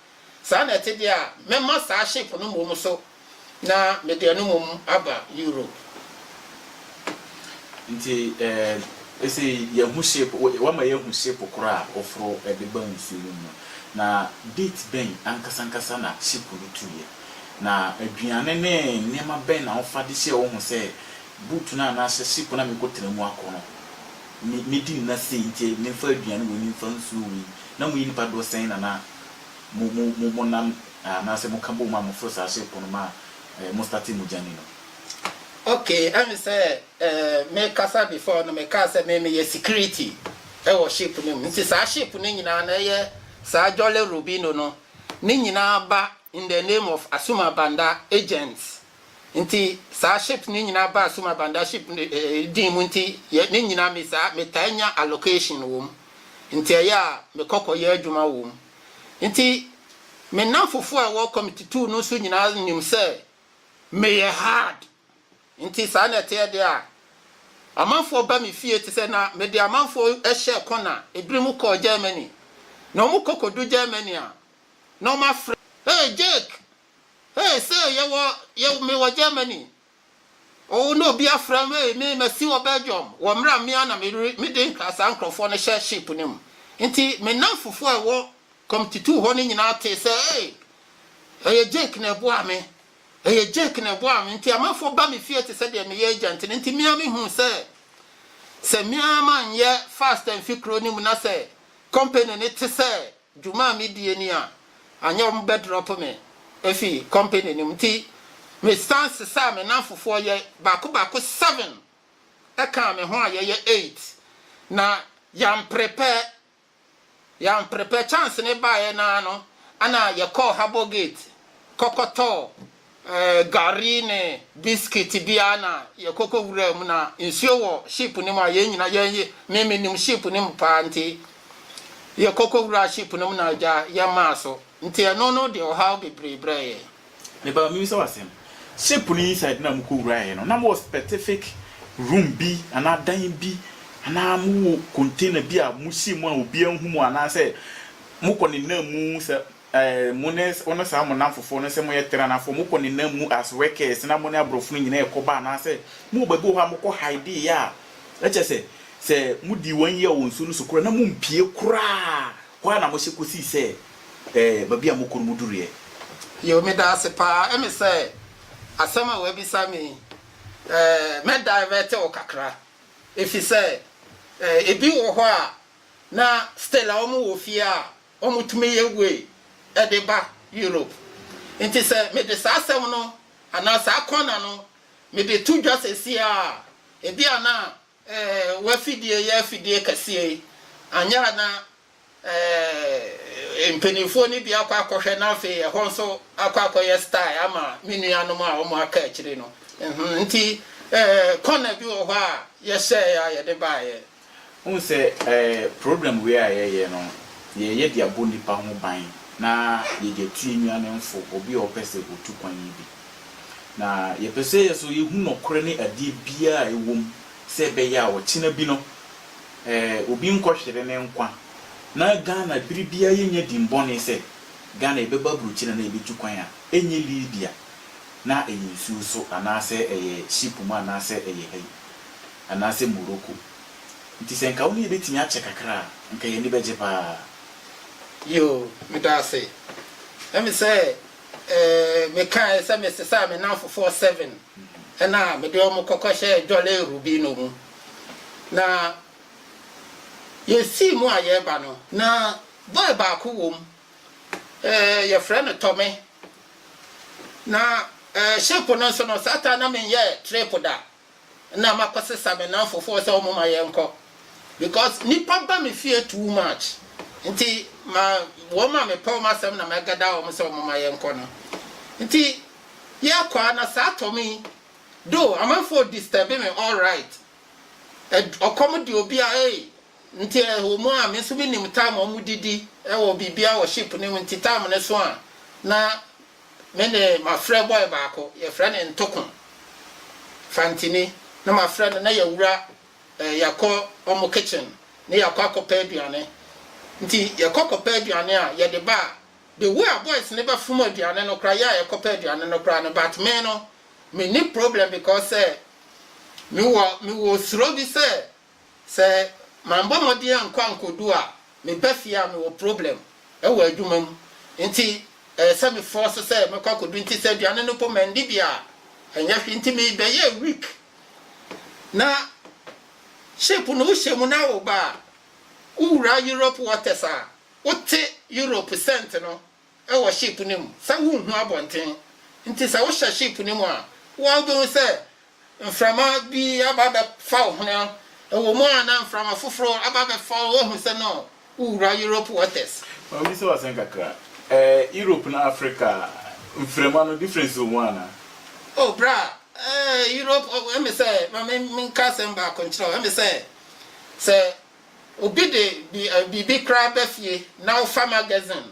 saa na ɛte deɛ a mɛma saa ship no mmom so na mede ɛno mmom aba Europe. Nti ɛɛ sɛ yɛhu ship, wama yɛahu ship korɔ a wɔforo de ba nsuo no mu no, na date bɛn ankasa ankasa na ship no tuiɛ? Na aduane ne nneɛma bɛn na wofa de hyɛɛ wo ho sɛ boot no a na hyɛ ship no a mekɔtena mu akɔ no? me medi nna sei nti memfa aduane wei memfa nsuo wei, na moyɛ nnipa doɔ sɛn na na mo mo mo monam anaasɛ moka bom a moforo saa ship no ma eh mo starte mo journey no. Okay, ɛne sɛ eh me kasa before no me kaa sɛ me meyɛ security ɛwɔ ship no mu nti saa ship no nyinaa na ɛyɛ saa Jolly Robinho no ne nyinaa ba in the name of Asuma Banda agents Nti saa ships no nyinaa baa Suma Banda ship no din mu nti yɛ ne nyinaa me saa me taa nya allocation wɔ mu nti ɛyɛ a me kɔ kɔ yɛ adwuma wɔ mu nti me nnamfofoɔ a ɛwɔ committee two no nso nyinaa nim sɛ me yɛ hard nti saa na ɛteɛ deɛ a amanfoɔ ba me fie te sɛ na me de amanfoɔ ɛhyɛ kɔna ebiri mu kɔɔ Germany na wɔn kɔ kɔ du Germany a na wɔn afrɛ hey Jake Hey say yɛwɔ yɛ me wɔ Germany oo na obi afrɛ me hey me masi wɔ Belgium wɔ mmerɛ a me ara na mede mede nkra saa nkurɔfoɔ no hyɛ ship no mu nti me nnamfofoɔ a ɛwɔ Komtitu hɔ no nyinaa tee sɛ hey ɛyɛ Jake na ɛboaa me ɛyɛ Jake na ɛboaa me nti amanfoɔ ba me fie te sɛ deɛ meyɛ agent no nti me ara mehuu sɛ sɛ me ara manyɛ fast amfi kuro no mu na sɛ company no te sɛ Dwuma a midie ni a, anyɛ wɔn bɛ drop me efi company no mu nti me san sesaa me nanfofoɔ yɛ baako baako seven ɛkaa me ho a yɛyɛ eight na yan prepare yan prepare chance no baeɛ naa no ɛna yɛkɔɔ harbour gate kɔkɔtɔɔ Gari ne biscuit bi ara na yɛkɔ kɔ wuraa mu na nsuo wɔ ship no mu a yɛn nyina yɛn ye me me nim ship no mu paa nti yɛkɔ kɔ wuraa ship no mu na agya yɛn maa so nti ɛno no de ɔhaw bebree brɛɛ yɛn. Meba me bisa wo asɛm ship no inside no a mo kɔ wuraa yɛ no na mo wɔ specific room bi anaa dan bi anaa mo wɔ container bi a mo hyɛ mu a obiara nhu mo anaa sɛ mo kɔ ne nam mu sɛ Eh, mo ne, wo ne saa mo nnamfofoɔ no, sɛ moyɛ Teranafoɔ, mokɔ ne nam mu as workers na mo ne aborɔfo no nyinaa rekɔba anaasɛ mowɔ baabi wɔ hɔ a mokɔ hideeɛ a, ɛkyerɛ sɛ, sɛ modii one year wɔ nsuo no so koraa na mompue koraa, hɔ ara na mohyɛ kɔsii sɛ, eh, baabi a mokɔ no moduruiɛ. Yo, meda ase paa. Ɛme sɛ asɛm a w'abisa me yi, eh, mɛ divert wo kakra. Efisɛ, eh, ebi wɔ hɔ a, na still a wɔn wɔ fie a Wɔtumi yɛ wei de ba Europe. Enti sɛ mede saa asɛm no anaa saa kɔna no mede to dwa seesei ara a, ebia na eh, w'afidie yɛ afidie kɛseɛ yi, anyɛ a na eh, mpanimfoɔ no bi akɔ akɔhwɛ na afei ɛhɔ nso akɔ akɔyɛ style ama me nuanom a wɔaka akyiri no. Nti eh, kɔna bi wɔ hɔ a yɛhyɛeɛ a yɛde baeɛ. Wohu sɛ ɛɛ program wei a yɛyɛ no, yɛyɛ de abɔ nnipa ho ban na yɛde atu yɛn nuanom fo, obi a ɔpɛ sɛ ɔtu kwan yi bi. Na yɛpɛ sɛ yɛ so yɛhu nɔkorɛ ne adeɛ biara a ɛwɔ mu sɛ ɛbɛyɛ a ɔkyena bi no ɛɛ obi nkɔhwere ne nkwa. Na Ghana bere biara yɛnya dimmɔne sɛ Ghana yɛbɛba aburokyi na na yɛbɛtu kwan a, ɛnyɛ Libya, na ɛyɛ nsuo so anaasɛ ɛyɛ ship mu anaasɛ ɛyɛ ha yi. anaasɛ Morocco. Nti sɛ nka wo ne yɛ bɛtumi akyɛ kakra a, nka yɛn ani bɛgye paa. Yoo, meda ase. Ɛyɛ me sɛ mekae sɛ mesesaa me nnamfofoɔ seven na mede wɔn kɔkɔhyɛɛ Jolly Rubino mu, na yɛsii mu a yɛreba no, na bɔe baako wom, yɛfrɛ no Tommy, na shape no nso no, saa taa na menyɛɛ trip da. na makɔsesa me nnamfo foɔ sɛ wɔn ma yɛnkɔ because nipa ba me fie too much nti ma wɔn a mepɛ wɔn asɛm na mɛgada wɔn sɛ wɔn ma yɛnkɔ no nti yɛkɔ a na saa tɔ me yi do amanfoɔ disturb me all right ɔkɔm de obi a ee nti ɛwɔ mu a me nso menim time wɔn didi ɛwɔ biribi a wɔ ship no mu nti time no so a na Me ne m'afrɛ bɔe baako, yɛfrɛ no Ntoko Fantini. Na m'afrɛ no na yɛawura eh, yɛakɔ wɔn kitchen na yɛakɔ akɔpɛ aduane. Nti yɛkɔ kɔpɛ aduane a, yɛde ba a, the way a boys no bɛfom aduane no koraa, yɛ a yɛkɔpɛ aduane no koraa no, but me no, menni problem because sɛ mewɔ mewɔ suro bi sɛ sɛ mambɔ mmɔden ankɔ ankodu a meba fie a mewɔ problem wɔ adwuma mu nti ɛyɛ sɛ me force sɛ mɛkɔ akɔdu nti sɛ aduane no mpo mandi bi a ɛnyɛ hwee nti me bɛyɛɛ weak na ship no wohyɛ mu na woba a wowura Europe waters a wote Europe scent no wɔ sheep no mu sɛ wonhu abɔnten. Nti sɛ wohyɛ sheep no mu a, wo ara wobɛhu sɛ mframa bi aba abɛfa wo hwene. Ɛwɔ mu a na mframa foforɔ aba abɛfa wo, woahu sɛ no wowura Europe waters. Maame bisa wo asɛm kakra. Ɛɛ Europe ne Africa mframa no difference wɔ mu anaa? Oh bra, ɛɛ Europe, ɛme sɛ, ma me menka asɛm baako nkyerɛ wo, ɛme sɛ, sɛ. Obi de bi ɛ biribi koraa ba fie na wofa magazine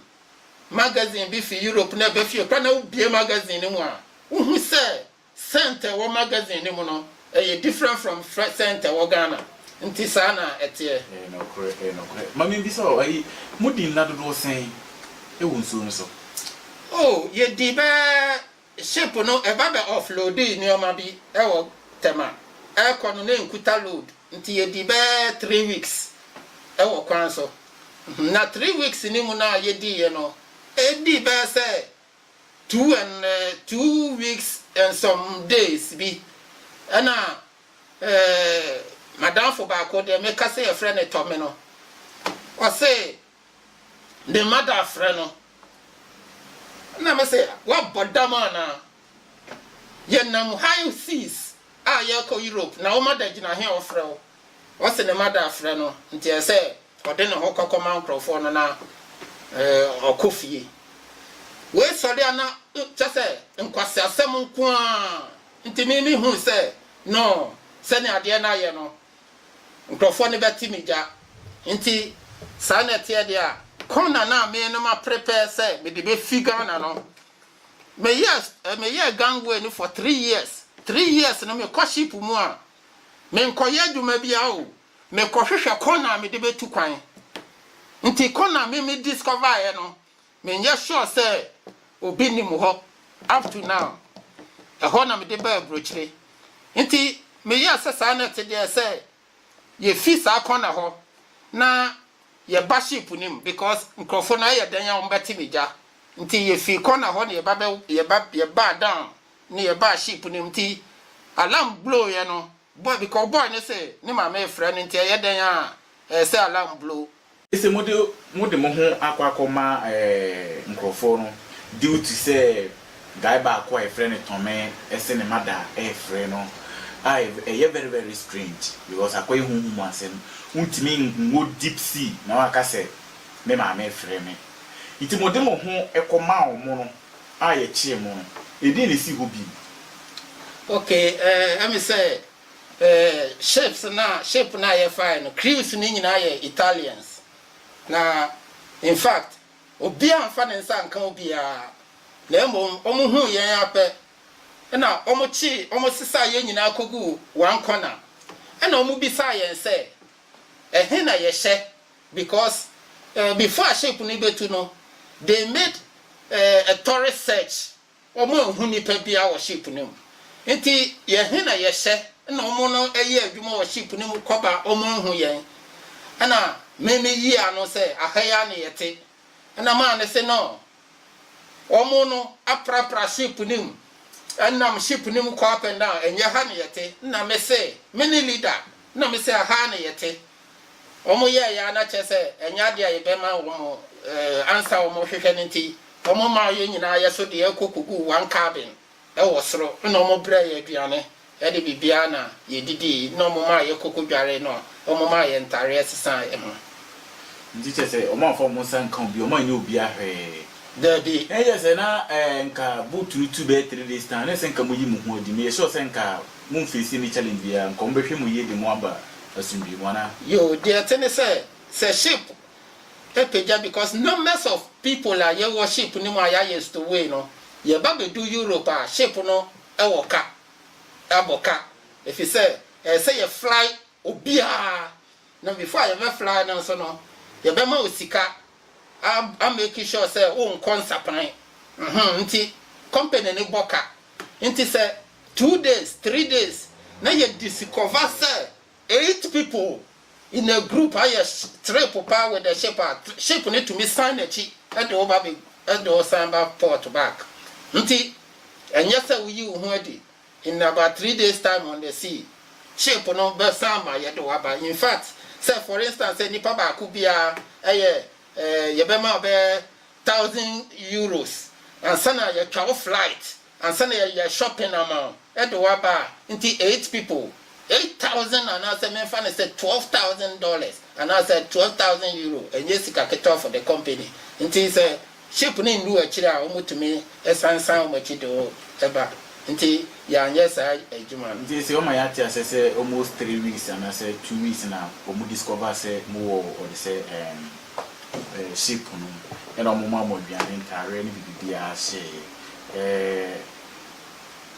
magazine bi fi Europe na ɛba fie koraa na wobue magazine no mu a, wohu sɛ scent a ɛwɔ magazine no mu no, ɛyɛ different from fre scent a ɛwɔ Ghana. Nti saa na ɛteɛ. Ɛyɛ nokorɛ, ɛyɛ nokorɛ. Ma menbisa o, ayi, modi nna dodoɔ sɛn wɔ nsuo no so? Oh, yɛdii bɛyɛ Ship no ɛba bɛ off loadii nneɛma bi wɔ Tema ɛrekɔ no na ɛnkuta load nti yɛdii bɛyɛ three weeks wɔ kwan so na three weeks no mu no a yɛdiiɛ no ɛdii bɛyɛ sɛ two and two weeks and some days bi ɛna eh, madamfo baako deɛ meka sɛ yɛfrɛ no Tɔme no ɔse Ne mma da frɛ no. Ɛna me se woabɔ dam anaa? Yɛnam high seas a yɛrekɔ Europe na wo mma da gyina he a wɔfrɛ wo? Ɔse ne mma da frɛ no nti ɛsɛ sɛ ɔde ne ho kɔkɔma nkorɔfoɔ no na ɔkɔ fie. Wei sɔre a na kyɛ sɛ nkwaseasɛm nko ara nti me mehui sɛ no sɛnea adeɛ no ayɛ no Nkurɔfoɔ no bɛte me gya. Nti saa na ɛteɛ deɛ a. Corner no a me no maprepare sɛ mede bɛfi Ghana no, meyɛɛ meyɛɛ gangway no for three years. Three years no mekɔ ship mu a, menkɔyɛ adwuma biara o, mekɔhwehwɛ corner a mede bɛtu kwan. Nti corner a me me discovereɛ no, Menyɛ sure sɛ obi nim hɔ up to now. Ɛhɔ na mede baa abrokyire. Nti meyɛɛ sɛ saa na ɛte deɛ sɛ yɛfi saa corner hɔ na yɛba ship no mu because nkurɔfoɔ no ayɛ dɛn a wɔbɛte me gya. Nti yɛfii corner hɔ na yɛba bɛ yɛba yɛbaa down na yɛbaa ship no mu. Nti alarm blowuiɛ no boy because boy no se ne maame refrɛ no nti ɛyɛ dɛn a ɛsɛ sɛ alarm blow. Sɛ mode mode mo ho akɔ akɔma nkurɔfoɔ no duty sɛ guy baako a yɛfrɛ no Tɔme se ne mada refrɛ no a ɛyɛ very very strange because akɔyɛ honhom mu asɛm wontumi nwɔ deep sea na waka sɛ me maame refrɛ me nti mode mo ho kɔmaa wɔn no a yɛkyee mo no ɛdeɛn na ɛsi hɔ bio? Okay, ɛɛ ɛme sɛ Eh, ships no a, ship no a yɛfaeɛ no, crews no nyinaa yɛ Italians. Na, in fact, obiara amfa ne nsa anka obiara, na mmom wɔhuu yɛn ara pɛ, ɛnna wɔkyee, wɔsesaa yɛn nyinaa kɔguu one corner, ɛnna wɔbisaa yɛn sɛ, Ɛhe na yɛhyɛ? Because, eh, before a ship no rebɛtu no, they made, eh, a thorough search. Wɔanhu nipa biara wɔ ship no mu. Enti yɛn he na yɛhyɛ na wɔn no yɛ adwuma wɔ ship no mu kɔba a wɔanhu yɛn. Ɛna me me yii ano sɛ, Aha yi ara ne yɛte. Ɛna maa no se no, Wɔn no aprapra ship no mu, nam ship no mu kɔ up and down, ɛnyɛ ha ne yɛte. Ɛna me se, Me ne leader, ɛna me se, Aha ara ne yɛte. wɔyɛɛ yɛ a na kyerɛ sɛ ɛnyɛ ade a yɛbɛma wɔn ansa wɔhwehwɛ no nti, wɔmaa yɛn nyinaa yɛ so deɛ kɔ kɔguu one cabin wɔ soro na wɔbrɛɛ yɛn aduane de biribiara na yɛdidii na wɔmaa yɛ kɔ kɔdwaree na wɔmaa yɛn ntareɛ sesaa yɛn ho. Nti kyerɛ sɛ wɔn amfa wɔn nsa anka obiara, wɔn anyɛ obiara hwee? Daabi. Na ɛyɛ sɛ na nka boot no tu bɛyɛ three days time, na ɛsɛ nka moyi mo ho adi, meyɛ sure sɛ nka momfeesi any challenge biara, nka wɔbɛhwɛ mo yie de mo aba asomdwie mu, anaa? Yoo, deɛ ɛte ne sɛ, sɛ ship pagya because numbers of people a yɛwɔ ship no mu a yɛayɛ stowaway no, yɛba bɛdu Europe a, ship no wɔ ka, abɔ ka, ɛfiri sɛ ɛsɛ sɛ yɛfly obiara, Na before a yɛbɛ fly no nso no yɛbɛma wo sika a a make sure sɛ wo nkɔ nsapran mhmm nti company no bɔ ka nti sɛ two days three days na yɛ discover sɛ eight people in a group ayɛ trip paa with the ship a ship no tumi san nakyi de wo ba bɛ de wo san ba port back nti ɛnyɛ sɛ wo yi wo ho adi. In about three days time on the sea, ship no bɛ san ma yɛ de waba. In fact, sɛ for instance sɛ nipa baako biara ɛyɛ eh, yɛ bɛ ma ɔbɛ thousand euros ansa na yɛ twa wo flight, ansa na yɛ yɛ shopping ama wo ɛde waba a, nti eight people Eight thousand anaasɛ menfa no sɛ twelve thousand dollars anaasɛ twelve thousand euro ɛnyɛ sika ketewa for the company nti sɛ ship no nnuu akyire a wɔn tumi san san wɔn akyi de wo ba nti yɛanyɛ saa adwuma no. Nti sɛ wɔma yɛate aseɛ sɛ almost three weeks anaasɛ two weeks na wɔn discover sɛ mo wɔ wɔde sɛ ɛɛm ɛɛ ship no mu ɛna wɔn maa mo aduane ntaareɛ ne biribibiara hyɛɛ yɛ ɛɛ.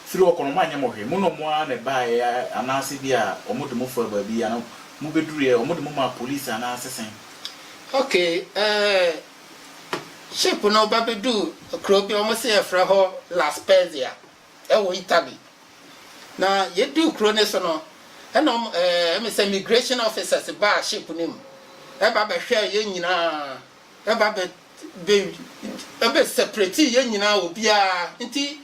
firi hɔ kɔ no, wɔanyɛ mo hwee. Mo na wɔn ara na ɛbaeɛ anaasɛ ebia wɔde mo faa baabi anaa mobɛduruiɛ, wɔde mo maa polisi anaasɛ sɛn? Okay, eh, ship no ba bɛduu kuro bi a wɔse yɛfrɛ hɔ La Spezia wɔ Italy. Na yɛduu kuro no so no, ɛna wɔn, eh, ɛme sɛ migration officers baa ship no mu, ɛba bɛhwɛɛ yɛn nyinaa, ɛba bɛ, bɛ, ɛbɛ separate yɛn nyinaa obiara, nti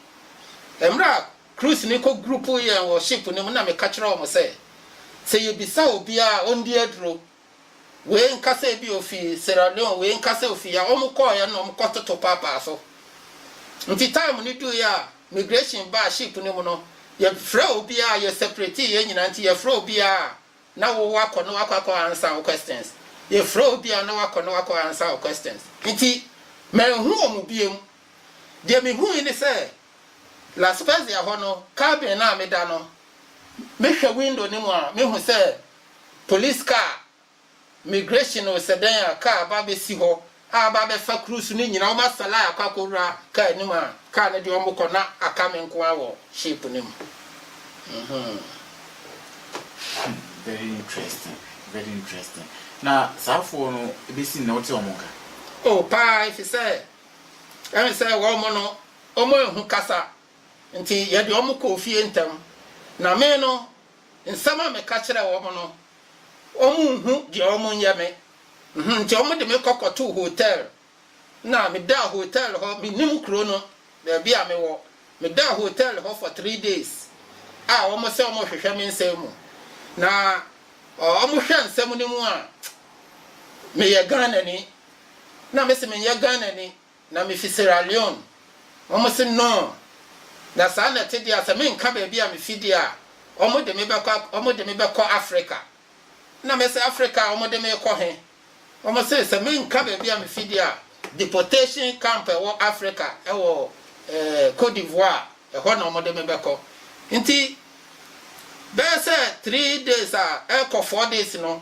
Mmerɛ a cruise no kɔ grupu yɛn wɔ ship no mu na meka kyerɛ wɔn sɛ, sɛ yɛbisa obiara a ɔndi aduro, wei nka sɛ ebi ɔfiri Sierra Leone, wei nka sɛ ɔfiri ha, wɔn kɔeɛ na wɔn kɔtoto paapaa so. Nti time no duiɛ a migration baa ship no mu no, yɛfrɛ obiara, yɛ separate yɛn nyinaa, nti yɛfrɛ obiara a na wo wakɔ na wakɔ akɔ answer wo questions, yɛfrɛ obiara na wakɔ na wakɔ answer wo questions, nti manhu wɔn biom. Deɛ mehui ne sɛ, La Spezia hɔ no, cabin no a meda no, mehwɛ window no mu a, mehu sɛ police car, migration o, sɛ dɛn a, car aba abɛsi hɔ a aba abɛfa cruise no nyinaa. Wɔasa line akɔ akɔwura car no mu a car no de wɔn kɔ na aka me nko ara wɔ ship no mu. Mm-hmm. Hmm, very interesting, very interesting. Na saafoɔ no, ɛbɛsi nnɛ wote wɔn nka? Oh, paa, ɛfiri sɛ Ɛne sɛ wɔn no wɔanhu kasa nti yɛde wɔn kɔɔ fie ntɛm, na me no, nsɛm a meka kyerɛɛ wɔn no, wɔnhu deɛ wɔnyɛ me. Nti wɔde me kɔ kɔtoo hotɛl, na medaa hotɛl hɔ, mennim kuro no, baabi a mewɔ. Medaa hotɛl hɔ for three days a wɔn sɛ wɔrehwehwɛ me nsɛm mu. Na wɔhwɛ nsɛm no mu a, meyɛ Ghanani, Na mese menyɛ Ghanani na mefi Sierra Leone. Wɔn se no. Na saa na ɛte deɛ a sɛ menka baabi a mefi deɛ a wɔn de me bɛkɔ wɔn de me bɛkɔ Africa. Na mese Africa a wɔn de me rekɔ he? Wɔn se sɛ menka baabi a mefi deɛ a deportation camp a ɛwɔ Africa ɛwɔ eh, Cote d'Ivoire ɛhɔ na wɔn de me bɛkɔ. Nti bɛyɛ sɛ three days a ɛrekɔ four days no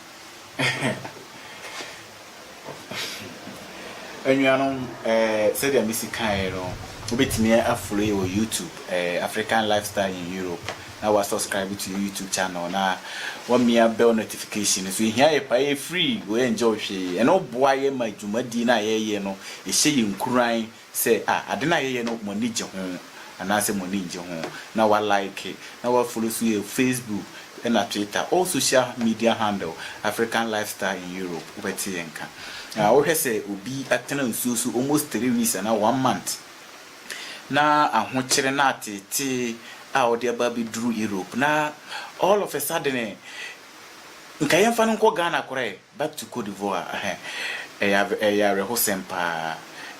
Anuanom, sɛdeɛ mesi kaeɛ no, wobɛtumi afolo yɛn wɔ YouTube, African Lifestyle in Europe, na woasɔskraibe to yɛn YouTube channel, na woamia bɛl nɔtifikahyin no so. Ɛhia yɛ paa, ɛyɛ free, woɛngyɛ wo hwee. Ɛno boa yɛn ma dwumadie no a yɛyɛ no, ɛhyɛ yɛn nkuran Sɛ a ade no a yɛyɛ no mo ani gye ho anaasɛ mo ani nnye ho na wa like na wa follow so yɛ Facebook ɛna Twitter all social media handle African lifestyle in Europe wobɛte yɛn nka na wo hwɛ sɛ obi atena nsuo so almost three weeks anaa one month na ahokyere na ateetee a ɔde aba abɛduru Europe na all of a sudden nka yɛmfa no nkɔ Ghana koraa ɛ Back to Cote d'Ivoire ahɛ ɛyɛ ɛyɛ awerɛhosɛm paa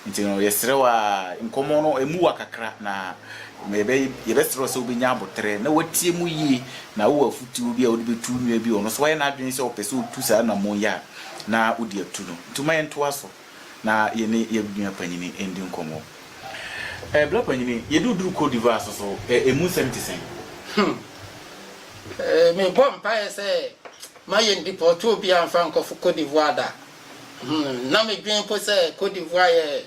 nti no yɛsrɛ wo aa nkɔmmɔ no ɛmu wa kakra na yɛbɛ yɛbɛsrɛ wo sɛ wobɛnya aboterɛ na woatie mu yie na wowɔ afutuo bi a wode bɛtu wo nua bi ɔno nso wayɛ n'adwene sɛ ɔpɛ sɛ ɔtu saa namon yi a na wode atu no nti ma yɛntoa so na yɛne yɛn nua panyini ndi nkɔmmɔ ɛɛ bra panyini yɛde wo duru Cote d'Ivoire so so ɛɛ ɛmu nsɛm te sɛn? Hmm. Eh, mebɔ mpaeɛ sɛ Ma yɛn depɔɔto obiara mfa nkɔfo Côte d'Ivoire da. Hum, na me dwen mpo sɛ Côte d'Ivoire yɛ,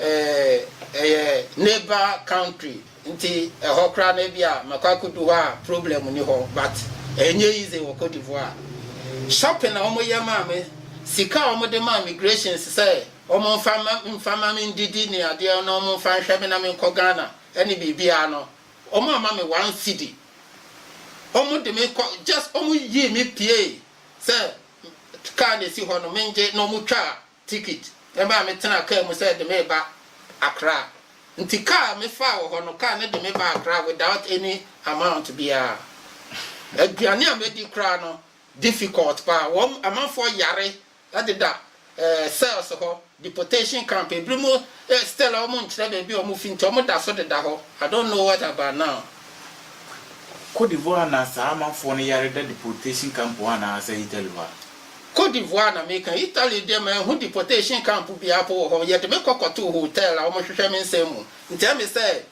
eh, ɛyɛ neighbor country, nti ɛhɔ koraa no ebia makɔ akodu hɔ a problem nni hɔ, but ɛnyɛ easy wɔ Côte d'Ivoire. Shopping a wɔn yɛ maa me, sika a wɔn de maa migrations sɛ wɔn mfa mma, mfa mma me ndidi ne adeɛ na wɔn mfa nhwɛ me na me nkɔ Ghana ne biribiara no, wɔn amma me one cedi. Wɔn de me kɔ just wɔn yii me pie sɛ car na esi hɔ no me ngye na wɔn twaa ticket ɛmaa me tenaa car mu sɛ ɛde me reba Accra nti car me faa wɔ hɔ no car no de me baa Accra without any amount biara aduane a mɛdi koraa no difficult paa wɔn amanfoɔ yare Ɛdeda eh, cells hɔ, deportation camp, ebinom eh, still a wɔn nkyerɛ baabi a wɔn fi nti wɔn da so deda hɔ, I don't know what about now. Cote d'Ivoire na saa amanfoɔ no yare da deportation camp hɔ anaa sɛ Italy hɔ a? Cote d'Ivoire na meka, Italy deɛ manhu deportation camp biara po wɔ hɔ, yɛde me kɔ kɔtoo hotel a wɔhwehwɛ me nsɛm mu, nti ɛme sɛ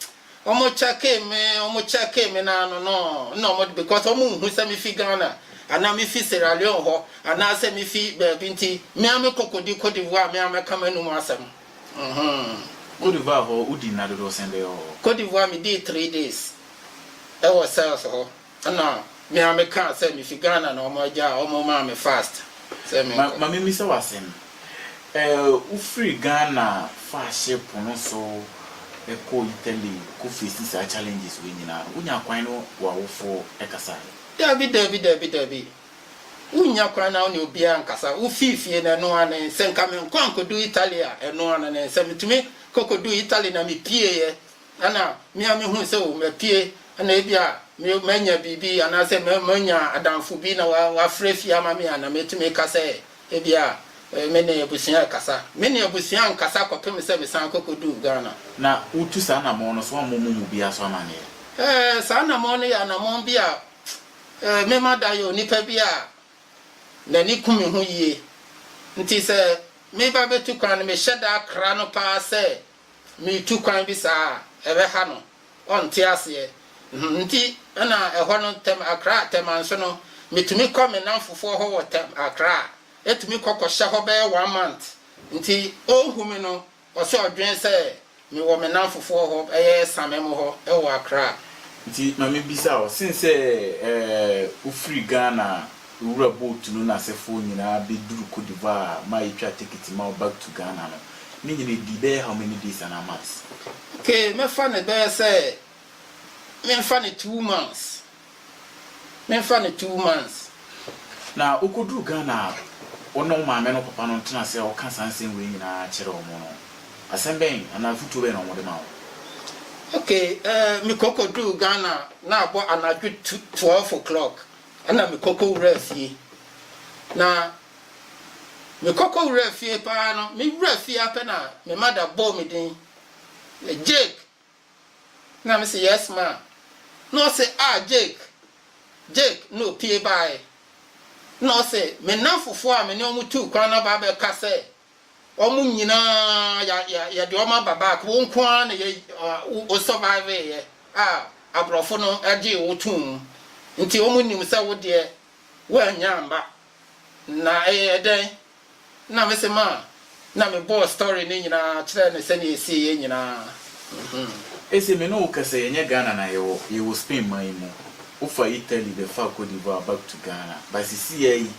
Ɔmo kyɛkee me, ɔmo kyɛkee me no ano no, nna ɔmo de, because ɔmo nnhu sɛ mifi Ghana, anaa mifi Sierra Leone hɔ, anaa sɛ mifi baabi ntsi, me ara me kɔ kodi Côte d'Ivoire me ara mɛka m'anomu asɛm. Mhmm. Côte d'Ivoire hɔ, wodii nna dodow sɛn bɛyɛ wɔ hɔ? Côte d'Ivoire, medii three days wɔ cells hɔ. Ɛna me a me kaa sɛ me fi Ghana na ɔmo agyaa ɔmo maa me fast sɛ me nkɔ. Ma me mmisa wo asɛm, eh wo firi Ghana faa ship no so kɔɔ Italy kɔ facing saa challenges wei nyinaa no, wo nyaa kwan ne w'awofo kasaeɛ? Dabi dabi dabi dabi, wo nnya kwan na wo ne obiara nkasa, wo fii fie no ɛno ara ne, sɛ nka me nkɔ ankɔdu Italy a ɛno ara ne, sɛ me tumi kɔ kɔduu Italy na me pieeɛ. Ana me a mehu sɛ o mapue, ana ebia manya biribi anaasɛ manya adamfo bi na wafrɛ afie ama me a, na metumi ka sɛ ebia me ne abusua rekasa. Me ne abusua nkasa kɔpem sɛ mesan kɔkɔduu Ghana. Na wotu saa anammɔn no so? Woammɔ mo mu biara so amanneɛ? Ɛɛ, saa anammɔn no yɛ anammɔn bi a mema da yɛ onipa bi a n'ani ku me ho yie. Nti sɛ meba bɛtu kwan no, mehyɛ da kra no paa sɛ Metu kwan bi saa a, ɛbɛha no, ɔnte aseɛ. Nti na ɛhɔ no, Tɛm Akra, Tɛmanso no, metumi kɔ me nnamfofoɔ hɔ wɔ Tɛm Akra a, ɛtumi kɔ kɔhyɛ hɔ bɛyɛ one month. Nti ɔnhu me no, ɔsɛ ɔdwene sɛ mewɔ me nnamfofoɔ hɔ, ɛyɛ Samem hɔ wɔ Akra. Nti ma mebisa wo, sensɛ wofiri Ghana a, Ewura boat no n'asefo nyinaa beduru Côte d'Ivoire a ma yetwaa tekiti ma wo back to Ghana no, ne nyina edii bɛyɛ how many days anaa months? Okay, mɛfa no bɛyɛ sɛ menfa no two months, menfa no two months. Na wokoduru Ghana a, wo ne wo maame ne wo papa no ntena ase a woka saa nsɛm wei nyinaa kyerɛ wɔn no, asɛm bɛn anaa afotuo bɛn na wɔde ma wo? Okay, eh, mekɔ kɔduu Ghana na abɔ anadwo tu, twelve o'clock, Ɛnna mekɔ kɔwuraa fie. Na mekɔ kɔwuraa fie pa ara no, mewura fie ara pɛ na me mada bɔɔ me din, Jake! Na mese, Yes, ma. Na ɔse, Ah, Jake, Jake! Na ɔpue baeɛ. Na ɔse, Me nnamfofoɔ a me ne wɔn tuu kwan no aba abɛka sɛ Wɔn nyinaa yɛ yɛde wɔn aba back wo nko ara na yɛ wo survive yɛ a aborɔfo no gyee wo too mu nti wɔn nnim sɛ wo deɛ woannya mma na ɛyɛ dɛn na me se ma na me bɔɔ story no nyinaa kyerɛɛ no sɛdeɛ ɛsiiɛ nyinaa mm. Ese me ne wo kɛsɛ yɛnyɛ Ghana na yɛwɔ yɛwɔ Spain man yi mu wofa Italy bɛfaa Cote d'Ivoire back to Ghana but sisiiaa yi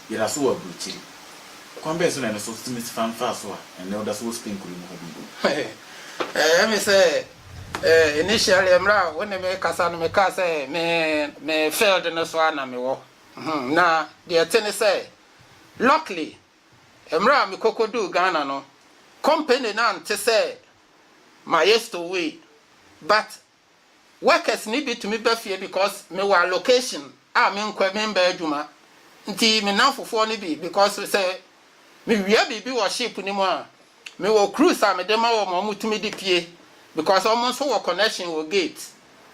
yɛdaso wɔ aburokyiri. Ɔkwan bɛn so na ɛno so tumi fa mfaaso a ɛnnɛ ɔda so wɔ Spain kurow yi mu ha bi ho? Ɛyɛ me sɛ initially mmerɛ a wo ne me rekasa no mekaa sɛ me me field no so a na mewɔ na deɛ ɛte ne sɛ luckily mmerɛ a mekɔkɔduu Ghana no company no ante sɛ mayɛ stowaway but workers no bi tumi ba fie because mewɔ allocation a menkɔ memmɛ adwuma nti me nnamfofoɔ no bi because sɛ mewia biribi wɔ ship no mu a mewɔ cruise a mede ma wɔn a wɔtumi de pie because wɔn nso wɔ connection wɔ gate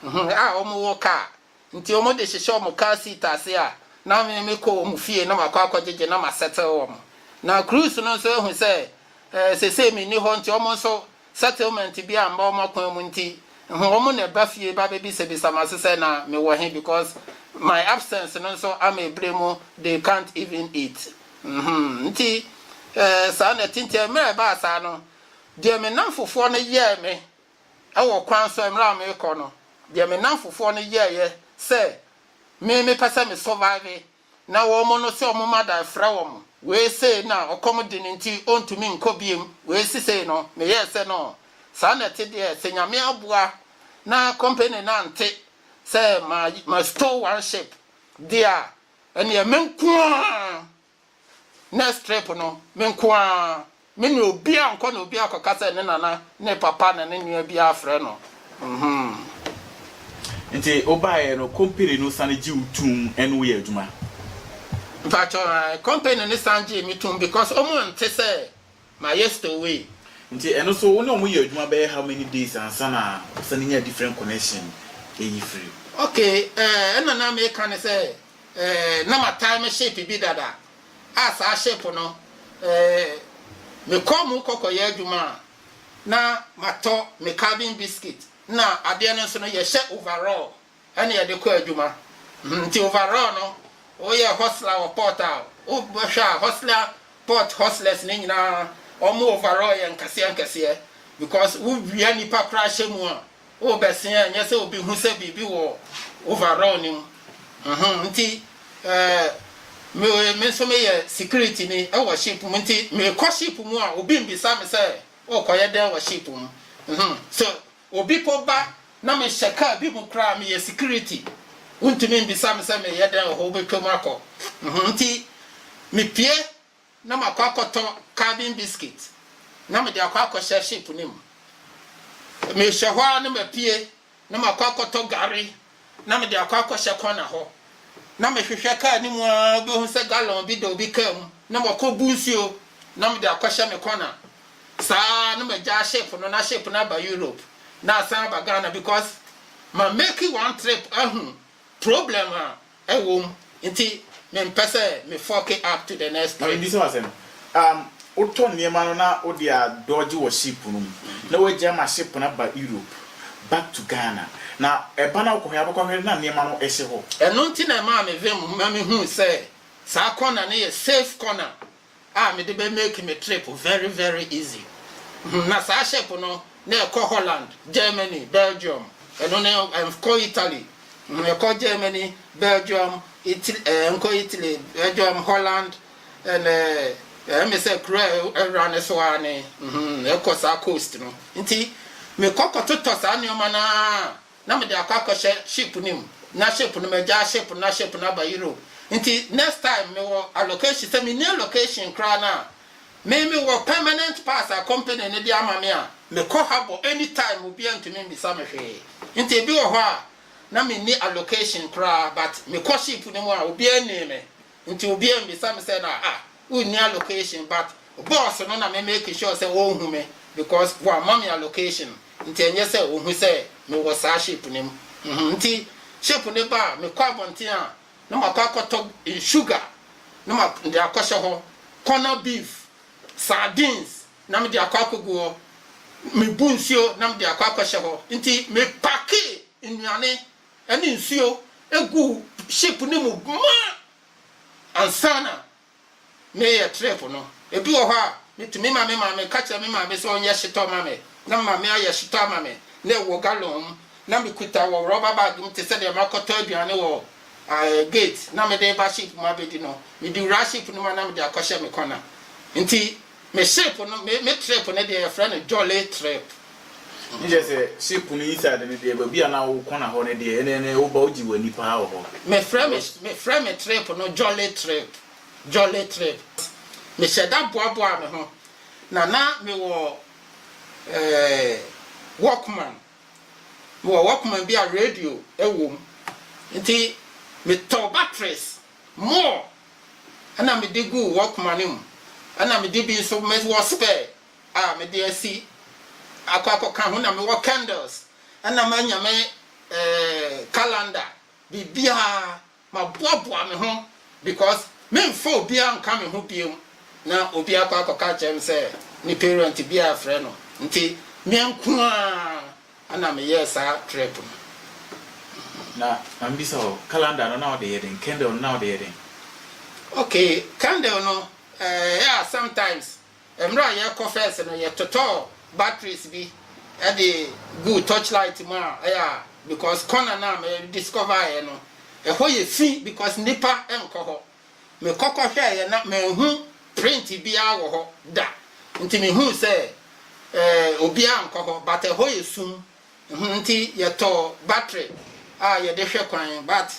a wɔwɔ car Nti wɔn de hyehyɛ wɔn car seat ase a na me me kɔ wɔn fie na makɔ akɔ gyegye na ma settle wɔn. Na Cruz no nso ahu sɛ eh, sesei me nni hɔ nti wɔn nso settlement bi amma wɔn akwan mu nti hmm, wɔn na ɛba fie ba bɛbisabisa ma so sɛ na me wɔ he because my absence no nso ama ebire mu they can't even eat. Hmm, nti eh, saa na ɛte nti mmerɛ ɛbaa saa no deɛ me namfofoɔ no yɛɛ me Wɔ kwan so mmerɛ a merekɔ no, deɛ me nnamfofoɔ no yɛeɛ sɛ me mepɛ sɛ me survive na wɔn no sɛ wɔn mma da frɛ wɔn, wei sei na ɔkɔm de no nti ɔntumi nkɔ biom, wei sesei no meyɛɛ sɛ no saa na ɛte deɛ sɛ Nyame aboa na company no ante sɛ ma ma stow one ship deɛ a, ɛnneɛ me nko ara Next trip no, me nko ara. Me ne obiara nkɔ na obiara kɔka sɛ ne nana, ne papa na ne nua bi afrɛ no. Mhmm. Nti wobaeɛ no company no sane gye wo tum ne wo yɛ adwuma? Mpakyɛw, ae. Company no sane gyee me tum because wɔn nte sɛ mayɛ stowaway. Nti ɛno nso wo ne wɔn yɛ adwuma bɛyɛ how many days ansa na wo sane nya different connection yi firi? Okay, ɛɛ, ɛna na meka ne sɛ Eh, na mataa me ship bi dada a saa ship no eh, mekɔɔ mu kɔkɔyɛ adwuma a na matɔ me calvin biscuit na adeɛ no nso no yɛhyɛ overall ɛne yɛde kɔ adwuma hmm, nti overall no woyɛ hustler wɔ port a wobɛhwɛ a hustler port hustlers no nyinaa wɔn overall yɛ nkɛseɛ nkɛseɛ because wowia nipa koraa hyɛ mu a worebɛsea a ɛnyɛ sɛ obi hu sɛ biribi wɔ overall no mu. Uhum nti eh, me me nso meyɛ security ni wɔ ship mu nti mekɔ ship mu a obi mbisa me sɛ wokɔyɛ dɛn wɔ ship mu. Uhum so obi po ba na mehyɛ car bi mu koraa meyɛ security wontumi mbisa me sɛ meyɛ dɛn wɔ hɔ wobɛtwam akɔ. Uhum nti mepue na makɔ akɔtɔ calvin biscuit na mede akɔ akɔhyɛ ship no mu mehyɛ hɔ ara na mapue na makɔ akɔtɔ gari na mede akɔ akɔhyɛ kɔna hɔ na mehwehwɛ kaa no mu ara bɛhu sɛ gallon bi da obi kaa mu na makɔ bu nsuo na mede akɔhyɛ me kɔna saa na magyaa ship no na ship no aba Europe na asan aba Ghana because ma make one trip ahu problem a Ɛwom, nti mempɛ sɛ me fuck it up to the next Maame, threat. bisa wo asɛm. Um, wotɔ nneɛma no na wode a dodge wɔ ship no mu, na wagyae ma ship no aba Europe, back to Ghana, na ɛba no a wokɔhwɛ a wobɛkɔhwɛ no na nneɛma no ɛhyɛ hɔ. Ɛno nti na ɛmaa me vem ma mehuu sɛ saa corner no yɛ safe corner a mede bɛ make me trip very very easy hmm na saa ship no na ɛkɔ Holland, Germany, Belgium ɛno ne ɛnkɔ Italy hmm ɛkɔ Germany, Belgium, Italy eh, ɛnkɔ Italy, Belgium, Holland and eh, ɛme sɛ kuro a ɛwura ne so ara ne hmm ɛkɔ saa coast no nti mekɔ kɔtotɔ saa nneɛma no ara na mede akɔ akɔhyɛ ship no mu na ship no magyaa ship no na ship no aba Europe nti next time mewɔ allocation sɛ menni allocation koraa no a me mewɔ permanent pass a company no de ama me a mekɔ harbour anytime obiara ntumi mmisa me hwee nti ebi wɔ hɔ a na menni allocation koraa but mekɔ ship no mu a obiara nnee me nti obiaa mmisa me sɛ na ah wonni allocation but boss no na me make sure sɛ ɔnhu me because wamma me allocation nti ɛnyɛ sɛ ɔhu sɛ me wɔ saa ship no mu mhm nti ship no ba a mekɔ abɔnten a na makɔ akɔtɔ sugar na ma de akɔhyɛ hɔ corner beef sardines na mede akɔ akɔgu hɔ mebu nsuo na mede akɔ akɔhyɛ hɔ nti mepake nnuane ne nsuo guu ship no mu ma ansa na mereyɛ trip no. Ebi wɔ hɔ a, metumi ma me maame, meka kyerɛ me maame sɛ ɔnyɛ shito ma me, na me maame ayɛ shito ama me, na ɛwɔ gallon mu, na mekuta wɔ rɔba bag mu te sɛ deɛ makɔtɔ aduane wɔ gate na mede reba ship mu abɛdi no. Mede wura ship no mu a na mede akɔhyɛ me kɔna. Nti. Me ship no, me me trip no deɛ yɛfrɛ no jolly trip. Ne kyerɛ sɛ ship no inside no deɛ baabi a na wo corner hɔ no deɛ ɛnɛ ɛnɛ woba wogye w'ani paa wɔ hɔ. Me frɛ me Because. me frɛ me trip no jolly trip jolly trip me hyɛ da boaboa me ho na na me wɔ eh, walkman me wɔ walkman bi a radio ɛwɔ mu nti me tɔ batteries. More, ɛna mede guu Walkman no mu, ɛna mede bi nso, me wɔ spare a mede asi akɔ akɔka ho, na mewɔ candles, ɛna manya me calendar, biribiara, maboaboa me ho because memfa obiara nka me ho bio, na obi akɔ akɔka akyerɛ me sɛ ne parent bi afrɛ no, nti me nko ara Ɛna me yɛɛ saa trip no. Na ma me bisa wo, calendar no na wo de yɛ den? Candle no na wo de yɛ den? Okay, candle no, eh, yeah, sometimes, mmerɛ a yɛ kɔ first no, yɛ totɔɔ batteries bi de guu torch light mu a, yeah, because corner no a me discover yɛ no, ɛhɔ yɛ fi because nnipa nkɔ hɔ. Mekɔ kɔhwɛeɛ na manhu print biara wɔ hɔ da nti mehuu sɛ eh, obiara nkɔ hɔ but ɛhɔ yɛ sum hmm, nti yɛtɔɔ battery a yɛde hwɛ kwan but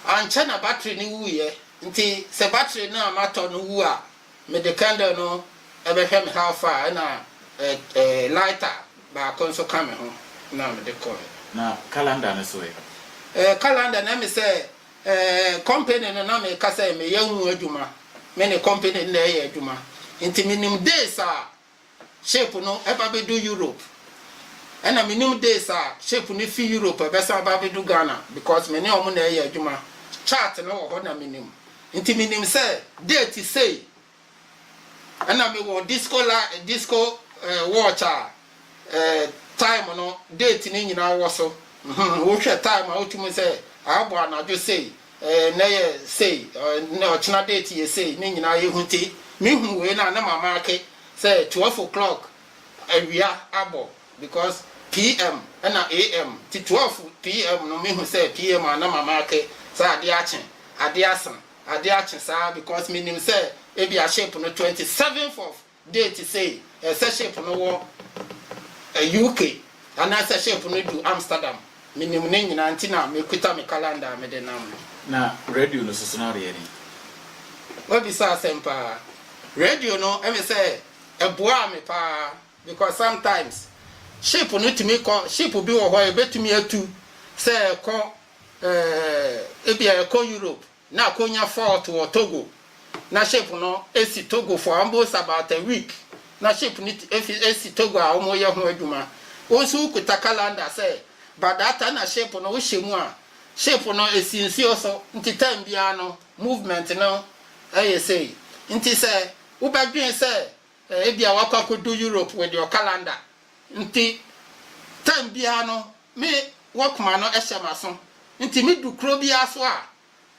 ankyɛ na battery no wuiɛ nti sɛ battery no a matɔ no wu a mede candle no ɛbɛhwɛ me how far ɛna eh, eh, lighter baako nso ka me ho na mede kɔɛ. Na calendar no so ɛ? Eh, calendar na ɛme sɛ Ɛɛ company no na me ka sɛ me yɛ ho adwuma me ne company no na ɛyɛ adwuma nti me nim days a ship no ɛba bɛ du Europe ɛna me nim days a ship no fi Europe ɛbɛsan ɛba bɛ du Ghana because me ne ɔmo na ɛyɛ adwuma chart no wɔ hɔ na me nim nti me nim sɛ date sei Ɛna me wɔ disco la disco eh, watch a eh, time no date ne nyinaa wɔ so hmm, wohwɛ time a wotumi sɛ abɔ anadwo sei eh, nɛ yɛ sei eh, ɔkyena date yɛ sei ne nyinaa yɛhu ti mehu wei no a na mama ake sɛ 12 o'clock awia abɔ because pm ɛna am ti 12 pm no mehu sɛ pm a na mama ake sɛ adeɛ akye adeɛ asa ade akye saa because me nim sɛ ebia ship no twenty seventh of date sei ɛsɛ ship no wɔ UK anaa sɛ ship no du Amsterdam me nim ne nyinaa nti na me kuta me calendar a me de nam no. Na radio no soso no adeɛ ne. Wa bisa asɛm paa. Radio no ɛmɛ sɛ ɛboaa me paa because sometimes ship no tumi kɔ ship bi wɔ hɔ a ɛbɛtumi atu sɛ ɛkɔ Eeh ebia ɛkɔ Europe na akonya fault wɔ Togo na ship no esi Togo for almost about a week na ship no efi esi Togo a ɔmo yɛ ho adwuma wo nso wo kuta calendar sɛ by that time na ship no wo hyɛ mu a ship no esi nsuo so nti time biara no movement no ɛyɛ sei nti sɛ wo bɛ dwen sɛ Ebia wakɔ akɔdu Europe with your calendar nti time biara no me walkman no hyɛ m'aso nti me du kuro biara so a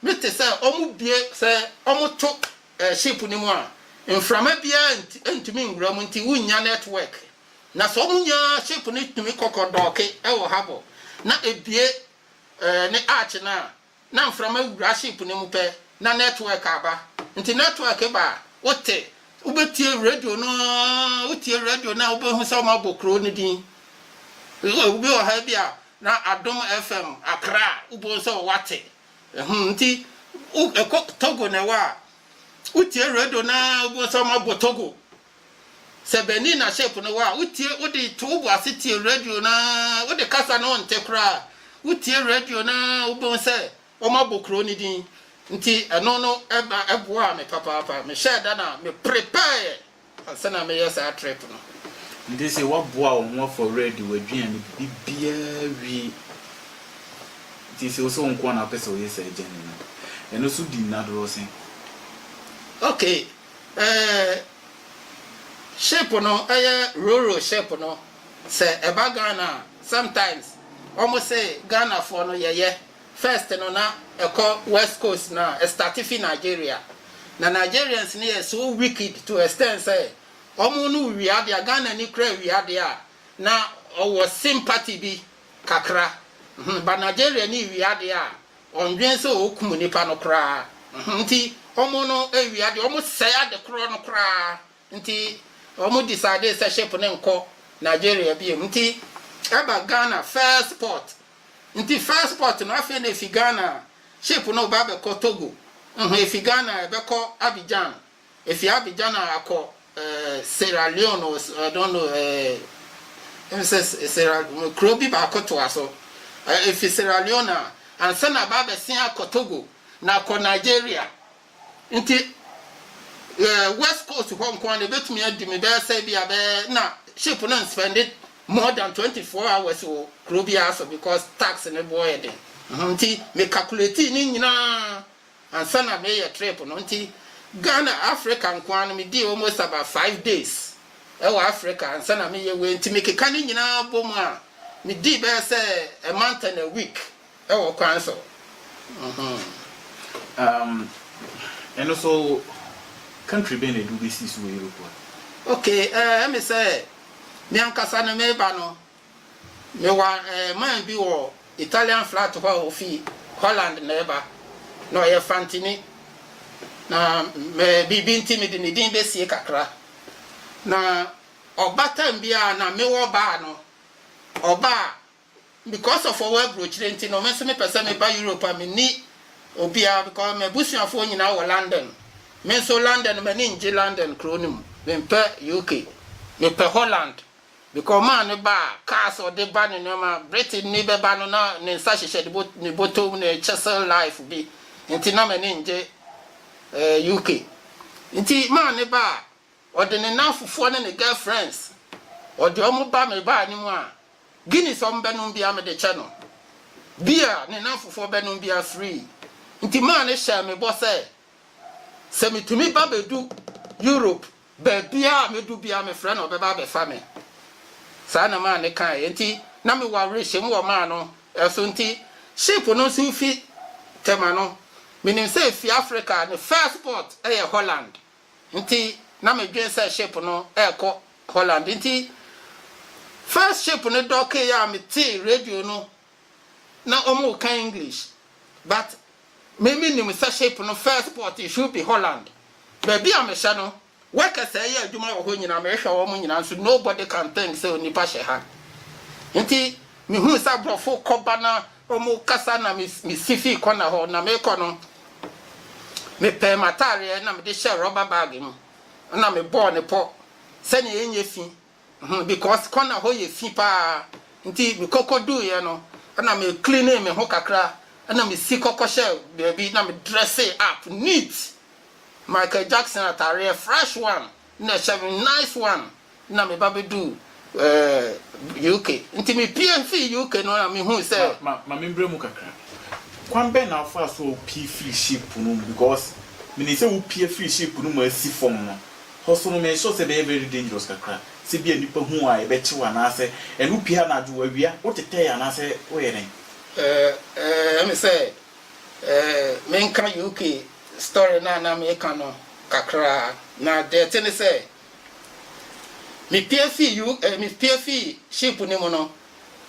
me te sɛ ɔmo bue sɛ ɔmo to ship no mu a mframa biara ntumi nwura mu nti wo nnya network na sɛ ɔmo nya ship no tumi kɔ kɔ dɔɔke wɔ harbour na ebue ne arch no a Na mframa wura ship no mu pɛ na network aba. Nti network ba a, wote, wobɛtie radio no ara, wotie radio no a wobɛhu sɛ wɔabɔ kuro no din. Obi wɔ ha bi a, na Adom FM Accra a, wobɛhu sɛ wate. Ɛhum, nti wo, ɛkɔ Togo na ɛwɔ a, wotie radio no ara wobɛhu sɛ wɔabɔ Togo Sɛ bɛnii na shape no wɔ a wotie wode to wobo ase tie radio no ara wode kasa no wonte koraa a wotie radio no ara wobɛhu sɛ wɔabɔ kuro no din nti ɛno no ɛba ɛboaa me papaapa mehyɛɛ da na me prepare ansa na meyɛ saa trip no. Nti se waboa wo ho afɔ radio aduane bibiaa wie nti se wo se wo nkoa na wopɛ sɛ woyɛ saa journey no a ɛno so di nna dorɔsen. Okay. Ɛɛ ship no ɛyɛ roro ship no sɛ ɛba Ghana a sometimes ɔmo se Ghana foɔ no yɛyɛ first no na ɛkɔ west coast no a ɛstarte fi Nigeria na Nigerians no yɛ so wicked to extend sɛ ɔmo no wia adeɛ a Ghana ni koraa wia adeɛ a na ɔwɔ sympathy bi kakra but Nigeria ni wia adeɛ a Wɔndwen sɛ wɔkum nnipa no koraa nti wɔn no wia ade, wɔn sɛe ade korɔ no koraa nti wɔn decide sɛ ship no nkɔ Nigeria biom nti ɛba Ghana first port nti first port no afei na efi Ghana ship no reba abɛkɔ Togo, efi Ghana ɛbɛkɔ Abidjan Efi Abidjan a akɔ eh, Sierra Leone or s- I don't know eh, em sɛ S- Sierra kuro bi baako toa so. Eh, efi Sierra Leone a ansa na aba abɛsen akɔ Togo na akɔ Nigeria. Nti eh, West Coast hɔ nko ara na ebetumi adi me bɛyɛ sɛ bi a bɛyɛ na ship no nspɛnde more than 24 hours wɔ kuro biara so because tax ne boɔ yɛ den. Mhm, Nti me calculate ne nyinaa Ansa na mereyɛ trip no nti Ghana Africa nkoaa no medii almost about five days wɔ Africa ansa na mereyɛ wei nti mekeka ne nyinaa bom a medii bɛyɛ sɛ a month and a week wɔ kwan so mm-hmm. Um, ɛno so country bɛn na ɛde wobɛsii so wɔ Europe hɔ? Okay, eh, ɛme sɛ me ankasa no meba no Mewɔ man bi wɔ Italian flat hɔ a ofi Holland na ɛba. Na ɔyɛ Fantini. Na me biribi nti mede ne din bɛsie kakra. Na ɔba tam bi a na mewɔ baa no, ɔba a because of ɔwɔ aburokyire nti no me nso mepɛ sɛ meba Europe a menni obiara because m'abusuafoɔ nyinaa wɔ London. Me nso London m'ani ngye London kuro no mu. Mempɛ UK. Mepɛ Holland. De kɔmaa ne ba a, kaa sɛ ɔde ba ne nnoɔma. Britton ni bɛba no, na ne nsa hyehyɛ ne bot ne bɔtɔ mu ne chisel knife bi nti na m'ani ngye eh, UK. Nti maa ne ba a, ɔde ne nnamfofoɔ ne ne girl friends, ɔde ɔmo ba me baa ne mu a, Guinness ɔmo bɛnom biara mede kyɛ no. Beer ne nnamfofoɔ bɛnom biara free. Nti maa no hyɛɛ me bɔ sɛ, sɛ metumi ba bɛdu Europe, Baabiara a mɛdu biara mefrɛ no ɔbɛba abɛfa me. Saa na maa no kaeɛ. Enti na mewɔ awerehyem wɔ maa no so nti ship no nso fi Tema no menim sɛ ɛfiri Africa a ne first port yɛ Holland nti na medwene sɛ ship no rekɔ Holland nti first ship no dɔkeeɛ a metee radio no na ɔmo ka English but me me nim sɛ ship no first port it should be Holland baabi a me hyɛ no workers a ɛyɛ adwuma wɔ hɔ nyina me hwɛ ɔmo nyina nso nobody can think sɛ onipa hyɛ ha nti me hu sɛ aborɔfo kɔ ba na ɔmo kasa na me me si fi kɔ na hɔ na me kɔ no me pɛɛ m'ataareɛ na me de hyɛ rubber bag mu na me bɔɔ ne pɔ sɛnea ɛnyɛ fi Hmm because corner hɔ yɛ fi paa nti me kɔ kɔ duu yɛ no ɛna me cleanee me ho kakra ɛna me si kɔ kɔ hyɛ baabi na me dressee up neat Michael Jackson ataareɛ fresh one na ɛhyɛ me nice one na me ba bɛ duu eh, UK nti me pie fii UK no na me hui sɛ. Ma ma ma me mbrɛ mu kakra kwan bɛn na wo faa so a wo pie firi ship no mu because me nim sɛ wo pie firi ship no mu asi fam no Hɔsono me sure sɛ ɛbɛyɛ very dangerous kakra sɛ bia nipa hu wo a yɛbɛkyew anaasɛ ɛne wo pie anadwo awia wo tetɛɛ anaasɛ wo yɛ dɛn? Eh eh me sɛ eh menka UK story no a na meka no kakra na deɛ ɛte ne sɛ me pie fii U eh me pie fii ship no mu no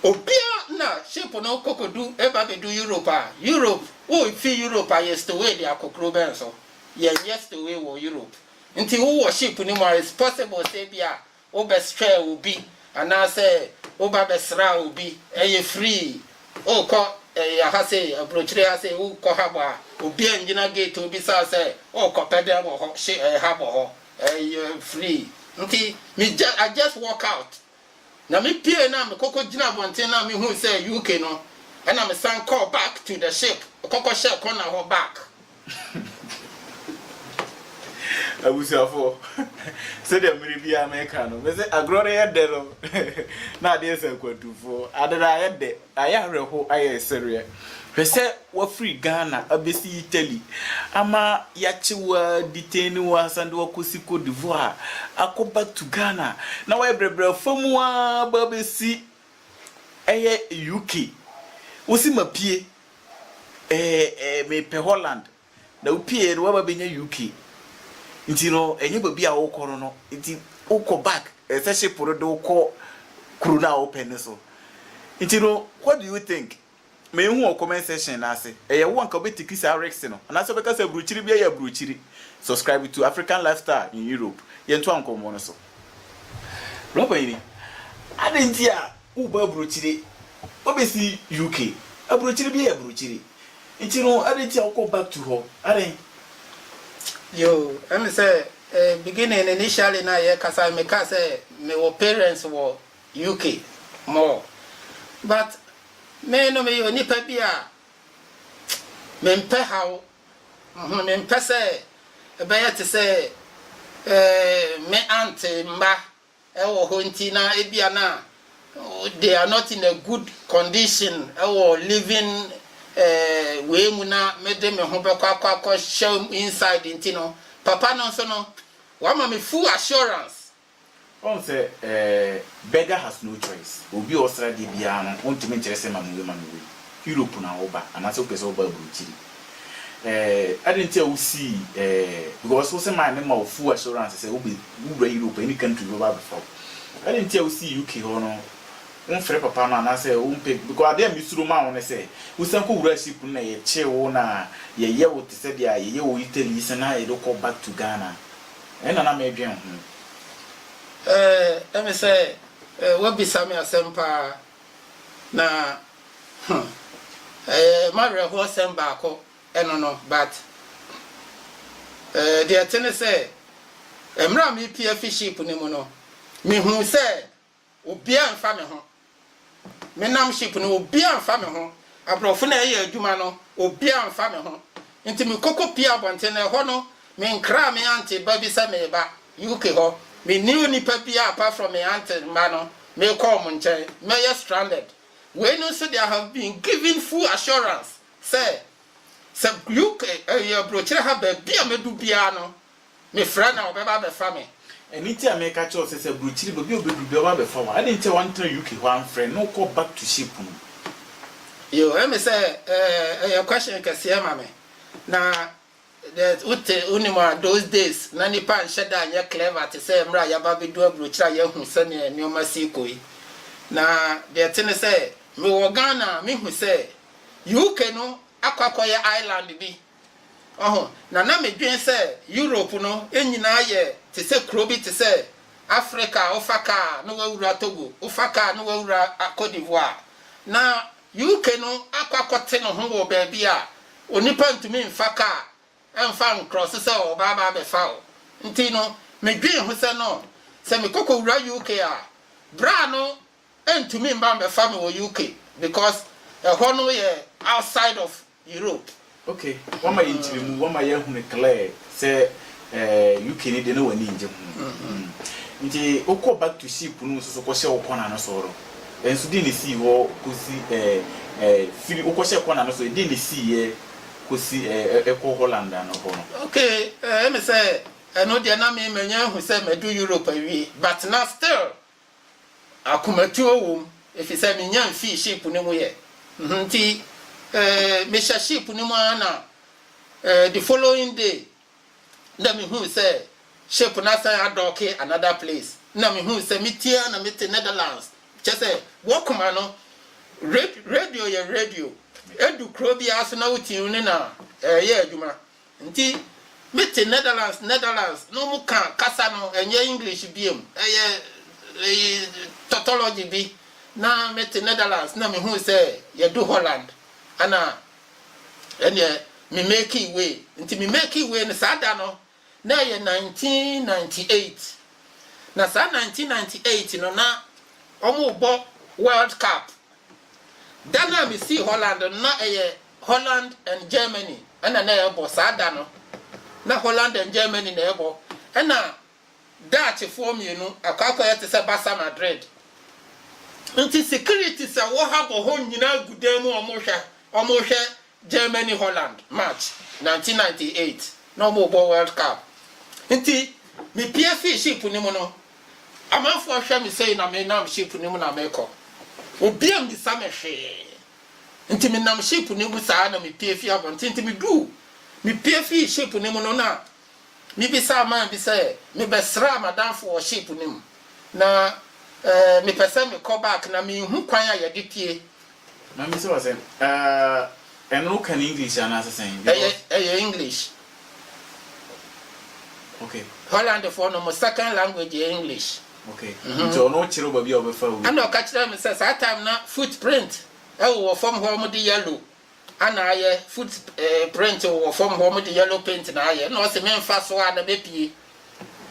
obia na ship no kɔkɔdu ɛba bɛdu Europe a Europe wo fi Europe a yɛ stowee de akɔ kuro bɛn so yɛnyɛ stowee wɔ Europe Nti wo wɔ ship no mu a it's possible sɛ ebia wo bɛ strɛɛ obi anaa sɛ wo ba bɛ sraa obi ɛyɛ free o kɔ ɛyɛ ha sei abrokyire ha sei wo kɔ habɔ a obi a ngyina gate obi saa sɛ o kɔ pɛ dɛn wɔ hɔ shi ɛyɛ habɔ hɔ ɛyɛ free nti me jus I just walk out Na me pue no a me kɔkɔ gyina abɔnten no a me hui sɛ ɛyɛ UK no ɛna me san kɔɔ back to the ship kɔkɔ hyɛɛ corner hɔ back. Abusuafoɔ, sɛdeɛ mmere biara meka no, mese agorɔ no yɛ dɛ no na adeɛ sɛ akwantufoɔ, ade no ayɛ dɛ. Ayɛ awerɛhow ayɛ sereɛ. Hwɛ sɛ wafiri Ghana abɛsi Italy ama yɛakye wo a detain wo asan de wo akɔsi Cote d'Ivoire akɔ back to Ghana na wayɛ brɛbrɛ afa mu ara aba abɛsi ɛyɛ UK. Wose mapue ɛɛ mepɛ Holland. na wupiei no woaba benya UK nti no ɛnyɛ baabi a wokɔ no no nti wokɔ back ɛsɛ ship no de wo kɔ kuro no a wopɛ no so nti no what do you think mehu wɔ comment section no ase ɛyɛ wo anka wobɛtiki saa risk no anaasɛ wobɛka sɛ aburokyiri biara yɛ aburokyiri subscribe to African lifestyle in Europe yɛntoa nkɔmmɔ no so Rɔba yi ni adɛn nti a Woba abrokyire wobɛsi UK abrokyire bi yɛ abrokyire nti no adɛn nti a wokɔ back to hɔ adɛn. Yoo ɛmi sɛ eh beginning initially na yɛ kasa me ka sɛ me wɔ parents wɔ UK more but me no me yɛ onipa bi a me mpɛ haw mhm me mpɛ sɛ ɛbɛyɛ te sɛ eh me aunt mma wɔ hɔ nti na ebia na they are not in a good condition wɔ living eh, wei mu na mede me ho bɛkɔ akɔ akɔ hyɛ inside nti no papa no nso no wama me full assurance. Ɔn sɛ eh, beggar has no choice obi a ɔsra deɛ biara no wontumi nkyerɛ sɛ ma me wei ma me wei Europe na wo ba anaasɛ wopɛ sɛ wo ba aburukyiri. eh, adɛn nti a wosii eh, because wo sɛ maa me ma wo full assurance sɛ wobɛ wura Europe any country wobɛba abɛfa wo adɛn nti a wosii UK hɔ no womfrɛ papa no anaasɛ wompɛ because adeɛ a mesuro ma wo ne sɛ wosan kɔ wura ship no na yɛkyee wo na yɛyɛ wo te sɛ deɛ a yɛyɛ wɔ Italy yi sɛ na yɛde kɔ back to Ghana ɛna na medwen ho. Eh, ɛne sɛ eh, woabisa me asɛm paa. Na hmm ɛyɛ mawerɛhoɔ sɛm baako ɛno no but eh deɛ ɛte ne sɛ mmerɛ a merepie afi ship no mu no mehuu sɛ obiara mfa me ho menam ship no obiara mfa me ho aborɔfo no a ɛyɛ adwuma no obiara mfa me ho nti mekɔkɔ pie abɔnten na ɛhɔ no Me nkra me aunty ba bi sɛ mereba UK hɔ, me nni onipa biaa apart from me aunty mma no, merekɔ wɔn nkyɛn, mɛyɛ stranded. Wei no nso de I have been given full assurance sɛ, sɛ UK ɛyɛ abrokyire ha baabi a mɛdu biaa no, me frɛ no a ɔbɛba abɛfa me. Ɛno nti a mereka kyerɛ wo sɛ, sɛ abrokyire baabi a ɔbɛduru biaa ɔbɛba abɛfa wo a, adɛn nti a wantena UK hɔ amfrɛ na wokɔ back to ship no? Yoo, ɛme sɛ ɛyɛ question kɛseɛ ma me, na There's wote wonim a those days na nnipa nhyɛ da nyɛ clever te sɛ mmerɛ a yɛaba abɛduru aburokyire a yɛahu sɛdeɛ nneɛma si rekɔ yi. Na deɛ ɛte ne sɛ mewɔ Ghana a mehu sɛ UK no akɔ akɔyɛ island bi wahu na na medwene sɛ Europe no nyinaa yɛ te sɛ kuro bi te sɛ Africa a wofa kaa a na woawura Togo, wofa kaa a na woawura Cote d'Ivoire na UK no akɔ akɔte ne ho wɔ baabi a onipa ntumi mfa kaa mfa nkrɔse sɛ ɔɔba aba abɛfa wo. Nti no, medwee ho sɛ no, sɛ mekɔ kowura UK a, braa no ntumi mba mbɛfa me wɔ UK because ɛhɔ no yɛ outside of Europe. Ok, wama yɛn nkyerɛmu, wama yɛn ahunu clear sɛ eh, UK ne deɛ na w'ani ngye ho. Mm. Nti wokɔ back to ship no mu nso so kɔhyɛ wo kɔna no so no, ɛnso deɛ na sii hɔ kɔsi eh, eh, firi wokɔhyɛ kɔna no so, deɛ na siiɛ kɔsi eh, eh, ɛkɔ Holland ano hɔ no? Ok, eh, ɛme sɛ ɛno deɛ na me manya ahu sɛ madu Europe awie, but na still Akomatuo wom, efisɛ minnya mfii sheep no mu ɛ, nti eh, mehyɛ sheep no mu ara na eh, the following day na mehuu sɛ sheep no asan adɔɔke another place, na mehuu sɛ metie a na mete Netherlands, kyɛ sɛ wɔ koma no radio yɛ radio, edu kuro biara so na wotie ne na ɛreyɛ adwuma. Nti me te Netherlands Netherlands na ɔmo ka kasa no ɛnyɛ English biom ɛyɛ eyi tautology bi na me te Netherlands na me hui sɛ yɛ du Holland ɛna ɛneɛ me makee way nti me makee way no saa da no na ɛyɛ 1998 na saa 1998 no na ɔmo bɔ world cup Da no a misii Holland no, na ɛyɛ Holland and Germany na na ɛrebɔ saa da no. Ná Holland and Germany na ɛrebɔ, ɛnna Dutchfoɔ mmienu akɔ akɔyɛ te sɛ Barca Madrid. Enti securities a wɔwɔ ha bɔ hɔ nyinaa gu dan mu a wɔrehwɛ wɔrehwɛ Germany Holland match nineteen ninety eight na ɔmo bɔ world cup nti me pie fii ship no mu no amanfoɔ hwɛ me sei na me nam ship no mu na me kɔ obi ammisa me hwee nti me nam ship no mu saa na me pie fii abɔnten nti me duu me pie fii ship no mu no na me bisaa man bi sɛ me bɛ sraa madanfo wɔ ship no mu na eh, me pɛ sɛ me kɔ back na me nhu kwan a yɛde pie Maame sɛ w'asɛm ahh ɛno wo ka no English anaa sɛ sɛn because. Ɛyɛ ɛyɛ English. Ok. Holland foɔ no ɔmo second language yɛ English. Ok nti ɔno kyerɛ wo baabi a ɔbɛfa wo. Ɛna ɔka kyerɛɛ me sɛ saa time na foot print ɛwɔ wɔ fam hɔ ɔmo de yellow ana ayɛ foot eh print wɔ fam hɔ ɔmo de yellow paint na ayɛ ɛna ɔse me nfa so a na mɛ pie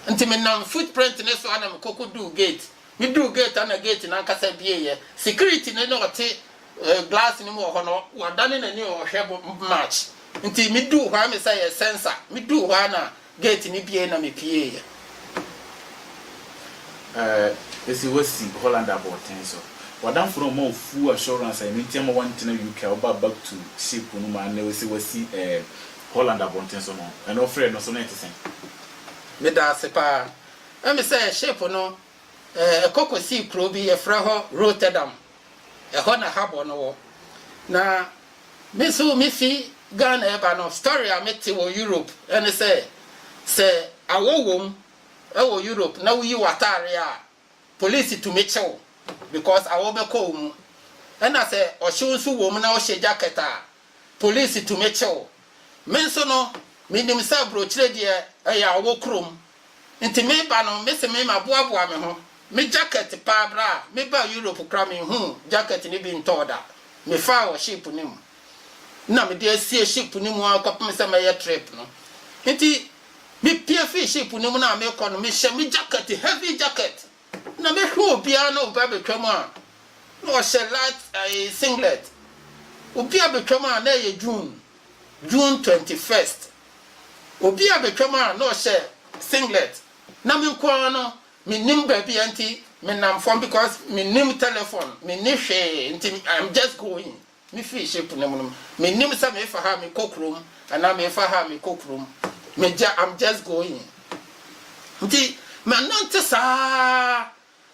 nti me nam foot print ne so a na me kɔ kɔ duu gate Meduu gate a na gate no ankasa abieeɛ. Security no na ɔte glass no mu wɔ hɔ no, wadane n'ani ɔrehwɛ March. Nti meduu hɔ a me sɛ ɛyɛ sensor. Meduu hɔ a na gate no bue na mepueeɛ. Eh, ese wasi Holland abɔɔten so. W'adamfo no ɔma wo full assurance a ɛno nti ama woantena UK a wobaa back to ship no mu a nnɛ wose wasi eh, Holland abɔnten so no, ɛno frɛ no so na ɛte sɛn? Medaase paa. Ɛne sɛ ship no kɔ kɔsii kuro bi yɛfrɛ hɔ Rotterdam, ɛhɔ na harbour no wɔ. Na me nso mefi Ghana reba no story a mete wɔ Europe ɛne sɛ, sɛ awɔ wɔ mu wɔ Europe na woyi w'atadeɛ a, police tumi kye wo because awɔ bɛkɔ wo mu. Ɛna sɛ ɔhyew nso wɔ mu na wohyɛ jacket a, Police tumi kye wo. Me nso no, menim sɛ aburokyire deɛ ɛyɛ a wɔ kurom. Nti me ba no, me se me ma boaboa me ho. Me jacket paa berɛ a me baa Europe koraa me nhuu jacket no bi ntɔɔ da. Me faa wɔ ship no mu. Nna me de asie ship no mu ara kɔpem sɛ mɛyɛ trip no. Nti me pie firi ship no mu no a me kɔ no, me hyɛ me jacket, heavy jacket. Na mehwɛ obiara na obi abɛtwam a na ɔhyɛ light ɛɛ singlet. Obi abɛtwam a na ɛyɛ June, June twenty first. Obi abɛtwam a na ɔhyɛ singlet. Na me nko ara no, mennim baabi a nti menam fam because mennim telephone, menni hwee nti I'm just going. Mifi ship no mu no, minnim sɛ mefa ha a mekɔ kurom anaa memfa ha a mekɔ kurom. Megya, I'm just going. Nti manante saa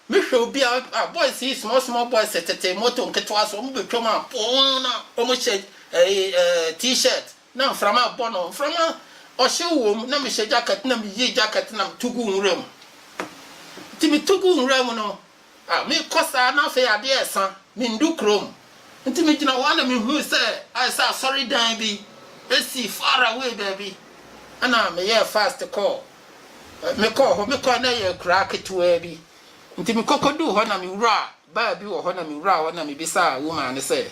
mehwɛ obi a, ah, boys yi, small small boys tete moto nketewa so, wɔbɛtwam a poo na wɔhyɛ eh, eh, t-shirt na mframa rebɔ no, mframa ɔhyew wom, na mehyɛ jacket na meyii jacket na metu guu nwura mu. Nti metu guu nwura mu no, Ah, mekɔ saa na afei adeɛ resa, mendu kurom. Nti megyina hɔ na mehui sɛ ayɛ sɛ asɔredan bi si far away baabi. Ɛna meyɛɛ fast kɔɔ, mekɔɔ hɔ, mekɔɛ na ɛyɛ akuraa ketewaa bi. Nti mekɔkɔduu hɔ na mewuraa bar bi wɔ hɔ na mewuraa hɔ na mebisaa woman no sɛ,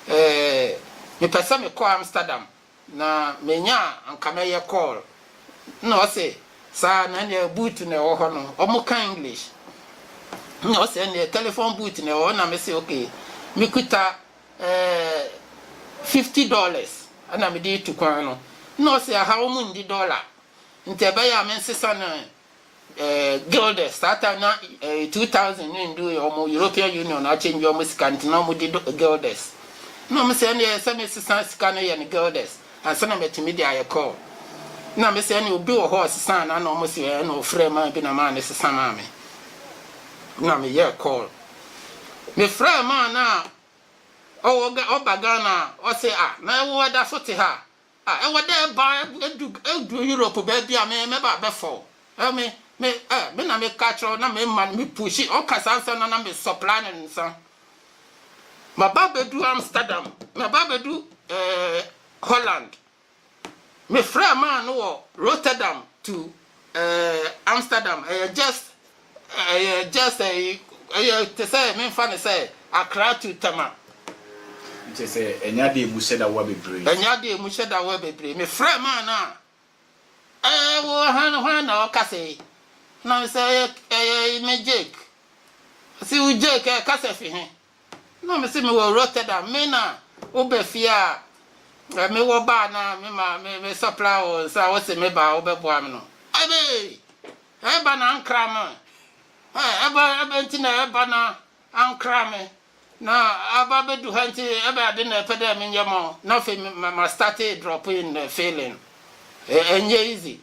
Eh, mepɛ sɛ mekɔ Amsterdam. Na menya a anka mɛyɛ call. Nna ɔse saa na ndeɛ booth na ɛwɔ hɔ no ɔmo ka English nna ɔse ɛndeɛ telephone booth na ɛwɔ hɔ nna mese ok mekuta ɛɛɛ fifty dollars ɛna mede retu kwan no nna ɔse ɛha ɔmo nndi dollar nti ɛbɛyɛ a mensesa no eh, guilders saa time na eh, 2000 no ndu yɛ ɔmo european union akyɛngye ɔmo sika nti na ɔmo di guilders na ɔmo sɛ ɛneɛ sɛ mesesa sika no yɛ no guilders ansa na matumi de ayɛ call na me sɛ ɛneɛ obi wɔ hɔ ɔsesa na na ɔmo sɛ ɛɛ na ɔfrɛ maa bi na maa ne sesa maa me na meyɛ call mefrɛ maa no a ɔwɔ ɔba ghana ɔse a na ɛwo ɛda so te ha Ah ɛwɔ dɛ eba edu edu Europe beebi a me mɛba abɛfa o. Eh me me eh me na me ka kyerɛ wo na me ma no me pushi ɔka saa nsɛm no na me supply no nsa. Maba abedu Amsterdam maba abedu eh Holland. Me frɛ man no wɔ Rotterdam to Ɛɛ Amsterdam ɛyɛ just ɛyɛ just ɛyi ɛyɛ te sɛ menfa ne sɛ Accra to Tema. Nkyɛ sɛ ɛnyɛ adeɛ emu hyɛ da wa bebree. Ɛnyɛ adeɛ emu hyɛ da wa bebree. Me frɛ maa no a ɛɛ wo han hwan na ɔkasa yi? Na me sɛ ɛyɛ ɛyɛ me Jake. Ɔsi wo Jake ɛɛ kasa fi he? Na mese mewɔ Rotterdam, me na wo ba fie a eh, me wɔ ba na me ma me me supply wo nsa wo se me ba wo bɛ boa me no. Ebe eh ba na ankra me eh ebe ebe nti na eh ba na ankra me na aba bɛ du ha nti ebe ade na ɛpɛ dɛ me nyɛ ma wo na afei ma start drop in feeling eh, ɛnyɛ easy.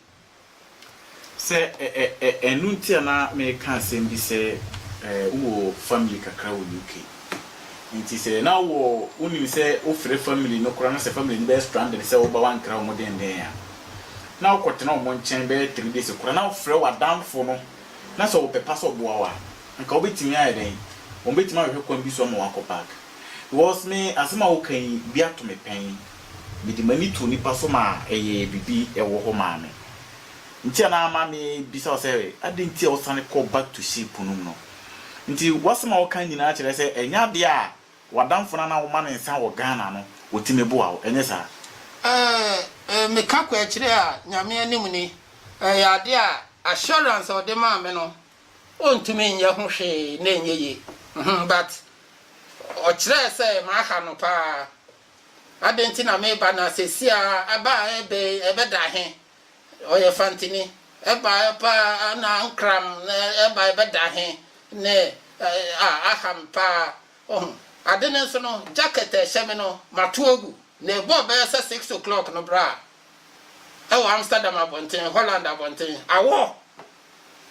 Sɛ ɛ ɛ ɛ ɛno nti a na mereka asɛm bi sɛ eh, wowɔ family kakra wɔ UK. Nti sɛ na wowɔ, wonim sɛ wofrɛ family no koraa na sɛ family no bɛyɛ stranded sɛ woba woankra wɔn denden a, na wokɔtena wɔn nkyɛn bɛyɛ three days koraa na wofrɛ w'adamfo no na sɛ ɔpɛ pa sɛ ɔboa wo a, anka wobɛtumi ayɛ dɛn? Wɔbɛtumi ahwehwɛ kwan bi so ama woakɔ back. Because me, asɛm a woka yi, bi ato me pɛn. Mede m'ani too nnipa so maa ɛyɛɛ biribi wɔ hɔ maa me. Nti a na ama mebisa wo sɛ adɛn nti a wosane kɔɔ back to ship no mu no. Nti w'asɛm a woka nyinaa kyerɛ sɛ ɛnyɛ adeɛ a w'adamfo no a na woma no nsa wɔ Ghana no ɔtumi boa wo, ɛnyɛ saa? Ɛɛ, meka kwaakyire a Nyame anim ni. Ɛyɛ adeɛ a assurance a ɔde maa me no ɔntumi nyɛ ho hwee na ɛnyɛ yie. But ɔkyerɛɛ sɛ maha no paa. Adɛn nti na meba, na seesei ara ɛba a ɛbɛ yi, ɛbɛda ahe? Ɔyɛ fantini. Ɛba a ɛpa a na nkram, na ɛba a ɛbɛda ahe? Ne a aham paa. Ohu. Ade no nso no, jacket a ɛhyɛ me no, matow agu. Na ɛbɔɔ bɛyɛ sɛ six o'clock no bere a, ɛwɔ Amsterdam abɔnten, Holland abɔnten, awɔ!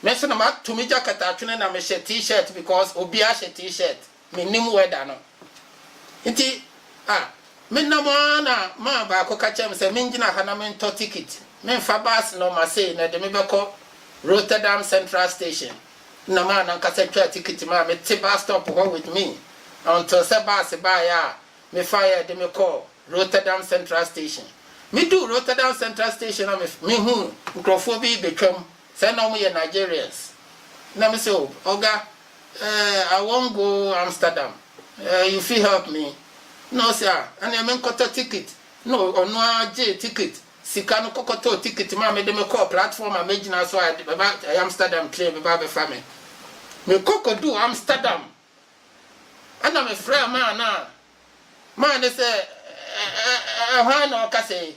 Me nso na mato me jacket atwene na mehyɛ T-shirt because obiara hyɛ T-shirt. mennim weather no nti a menam ara na man baako ka kyerɛ me sɛ mengyina ha na mentɔ ticket memfa bus no Marseille na ɛde me bɛkɔ Rotterdam Central Station na man no ankasa twaa ticket maa me te bus stop hɔ with me until sɛ bus baeɛ a mefaeɛ de me kɔɔ Rotterdam Central Station meduu Rotterdam Central Station na mehuu nkurɔfoɔ bi rebɛtwam Sɛ na ɔmo yɛ Nigerians na me sɛ oh ɔga eh I wan go Amsterdam eh you fit help me na ɔse ah ɛneɛ me nkɔtɔ ticket na ɔno ara gyee ticket sika no kɔ kɔtɔɔ ticket maa me de me kɔɔ platform a mɛgyina so a ɛba eh Amsterdam train bɛba abɛfa me me kɔ kɔ duu Amsterdam ɛna me frɛɛ maa no a maa no sɛ eh eh eh hwan na ɔkasa yi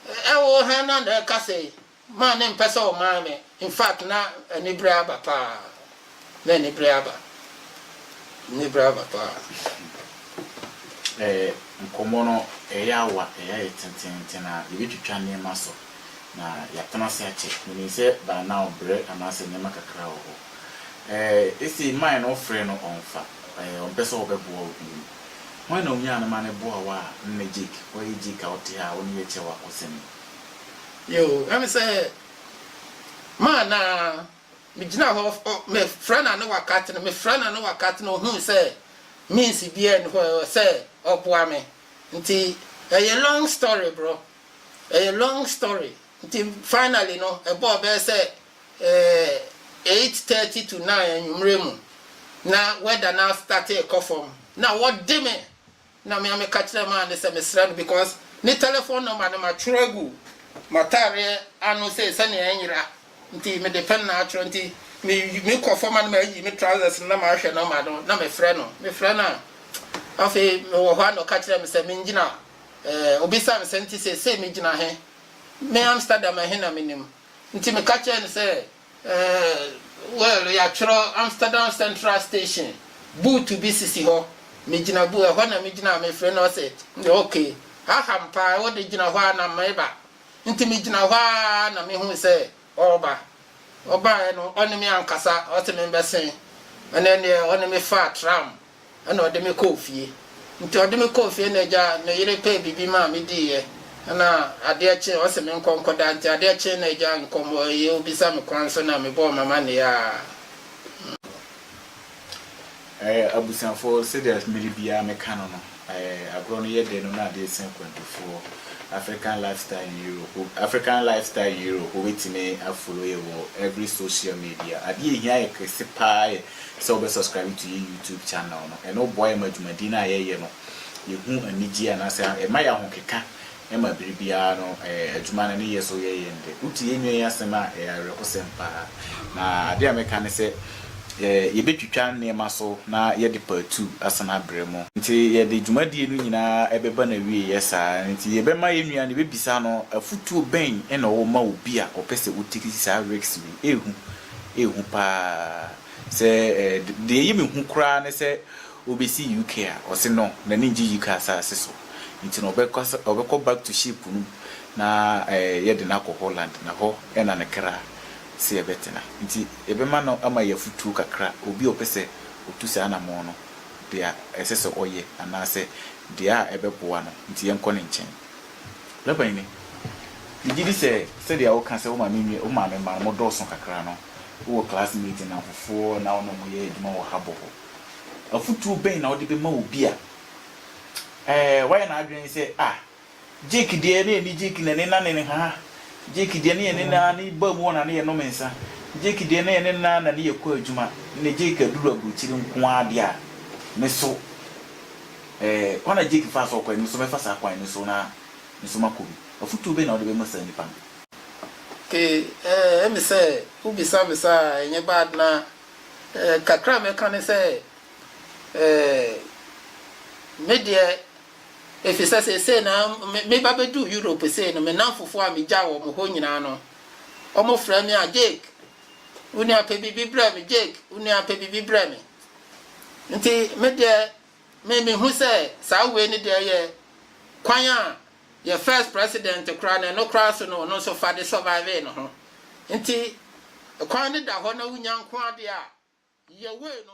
eh eh wo hɛn na na ɛkasa yi Maa ne mpɛ sɛ ɔmaa me infact na anibere aba paa na anibere aba anibere aba paa. Ɛɛ nkɔmmɔ no ɛyɛ awa ɛyɛ ayɛ tententen a yɛbɛtwitwa nneɛma so na yɛatena ase akyɛ menim sɛ by now berɛ anaasɛ nneɛma kakra wɔ hɔ ɛɛ ɛsei mae no wofrɛ no ɔmfa ɛɛ ɔmpɛ sɛ ɔbɛboa wo bio hwan na ɔnyaa no ma no boa wo a nnɛ Jake ɔyɛ Jake a wote ha a wo ne yɛ kyɛ wakɔ sɛne Yoo ɛne sɛ maa na megyina hɔ mefrɛ no a na wakate no, mefrɛ no a na wakate no, ɔhuu sɛ means biara nni hɔ sɛ ɔboa me nti ɛyɛ long story bro, ɛyɛ long story nti finally no ɛbɔɔ bɛyɛ sɛ eight thirty to nine anwummerɛ mu na weather no astate rekɔ fam na wɔde me Na me a me ka kyerɛ maa no sɛ mesrɛ no because ne telephone number no matwerɛ agu m'ataareɛ ano sei sɛnea ɛnyera nti mede pen na atwerɛ nti me me kɔ fam a na mayi me trousers no na mahwɛ number no na mefrɛ no mefrɛ no a afei mewɔ hɔ a na ɔka kyerɛ me sɛ mengyina eh, obisa me sɛ nti sɛ sei megyina he me Amsterdam he na menim nti meka kyerɛ no sɛ Eh, well, yɛatwerɛ Amsterdam Central Station, buutu bi sisi hɔ. Megyina bu, ɛhɔ na megyina a mefrɛ no, ɔse, Ok, ha ha mpa, wo de gyina hɔ a na meba. Nti megyina hɔ ara na mehui sɛ ɔreba. Ɔbaeɛ no, ɔne me ankasa, ɔse membɛsen. Ɛnɛ deɛ ɔne me faa tram Ɛna ɔde me kɔɔ fie. Nti ɔde me kɔɔ fie na agya me yere pɛɛ biribi maa me diiɛ. Ɛna adeɛ kye ɔse me nkɔ nkɔ da. Nti adeɛ kye na agya nkɔmɔ ɛyɛ obisa me kwan so na me bɔɔ m'amaneɛ a. Ɛɛ abusuafoɔ sɛdeɛ mmere biara me ka no no ɛɛ agorɔ no yɛ dɛ no na adeɛ sɛ nkwantufoɔ African lifestyle in Europe African lifestyle Europe wobɛtumi a follow yɛ wɔ every social media. Adeɛ ɛhia yɛ kɛse paa yɛ. sɛ wobɛ subscribe to yɛ YouTube channel no. Ɛno boa yɛ ma dwumadie no a yɛyɛ no yɛhu anigyeɛ anaasɛ ɛma yɛ ahokeka ma bere biara no adwuma no ne yɛ so yɛ yɛn dɛ. Wote yɛn nua yi asɛm a ɛyɛ awerɛhosɛm paa. Na adeɛ a mɛka ne sɛ yɛbɛtwitwa nneɛma so na yɛde part two asan abrɛ mo. Nti yɛde dwumadie no nyinaa bɛba n'awieɛ saa nti yɛbɛma yɛn nua no yɛbɛbisa no afotuo bɛn na ɔwɔ ma obi a ɔpɛ sɛ ɔtake saa risk wei. Ɛhu yɛ hu paa sɛ deɛ ɛyɛ me hu koraa ne sɛ ɔbɛsi UK a ɔse no n'ani ngye UK asaase so nti no ɔbɛkɔ back to ship no mu na yɛde no akɔ Holland na hɔ na ne kra se ɛbɛtena nti yɛbɛma no ama yɛ afutuo kakra obi a ɔpɛ sɛ ɔtu saa anamɔn no deɛ ɛsɛ sɛ ɔyɛ anaasɛ deɛ a ɛbɛboa no nti yɛnkɔ ne nkyɛn. Me panyini, megye di sɛ sɛdeɛ woka sɛ wo maame nua wo maame mma no modɔɔso kakra no, wowɔ classmate nnamfofoɔ na wo ne wɔn yɛ adwuma wɔ harbour hɔ. Afotuo bɛn na wode bɛma obi a eh, wayɛ n'adwene sɛ ah, Jake deɛ na yɛne Jake na yɛne nane nhaha, Jake deɛ na yɛne no ara ne baa mu hɔ na ne yɛnom nsa, Jake deɛ na yɛne no ara na ne yɛkɔ adwuma, ɛnnɛ Jake aduru aburokyire nko ara deɛ a, me so. Ɛɛ, kwan a Jake faa so kɔe no, me nso mɛfa saa kwan no so na me nso makɔ bi. Afotu bɛn na wode bɛma saa nnipa no? Okay, ɛɛ, emi sɛ wobisa me saa a, ɛnyɛ bad. Na ɛɛ, kakra a mɛka ne sɛ, ɛɛ, me deɛ, efisɛ seesei na me, meba beduu Europe sei no, me nnamfofo a migyaw wɔn hɔ nyinaa no, wɔfrɛ me a, Jake, wo nua pɛ biribi brɛ me, Jake, wo nua pɛ biribi brɛ me. Enti me deɛ, Me me hu sɛ saa wei no deɛ yɛ kwan a yɛ first president koraa no ɛno koraa so no ɔno nso fa de survivee ne ho nti kwan no da hɔ na wonya nko adeɛ a yɛ wei no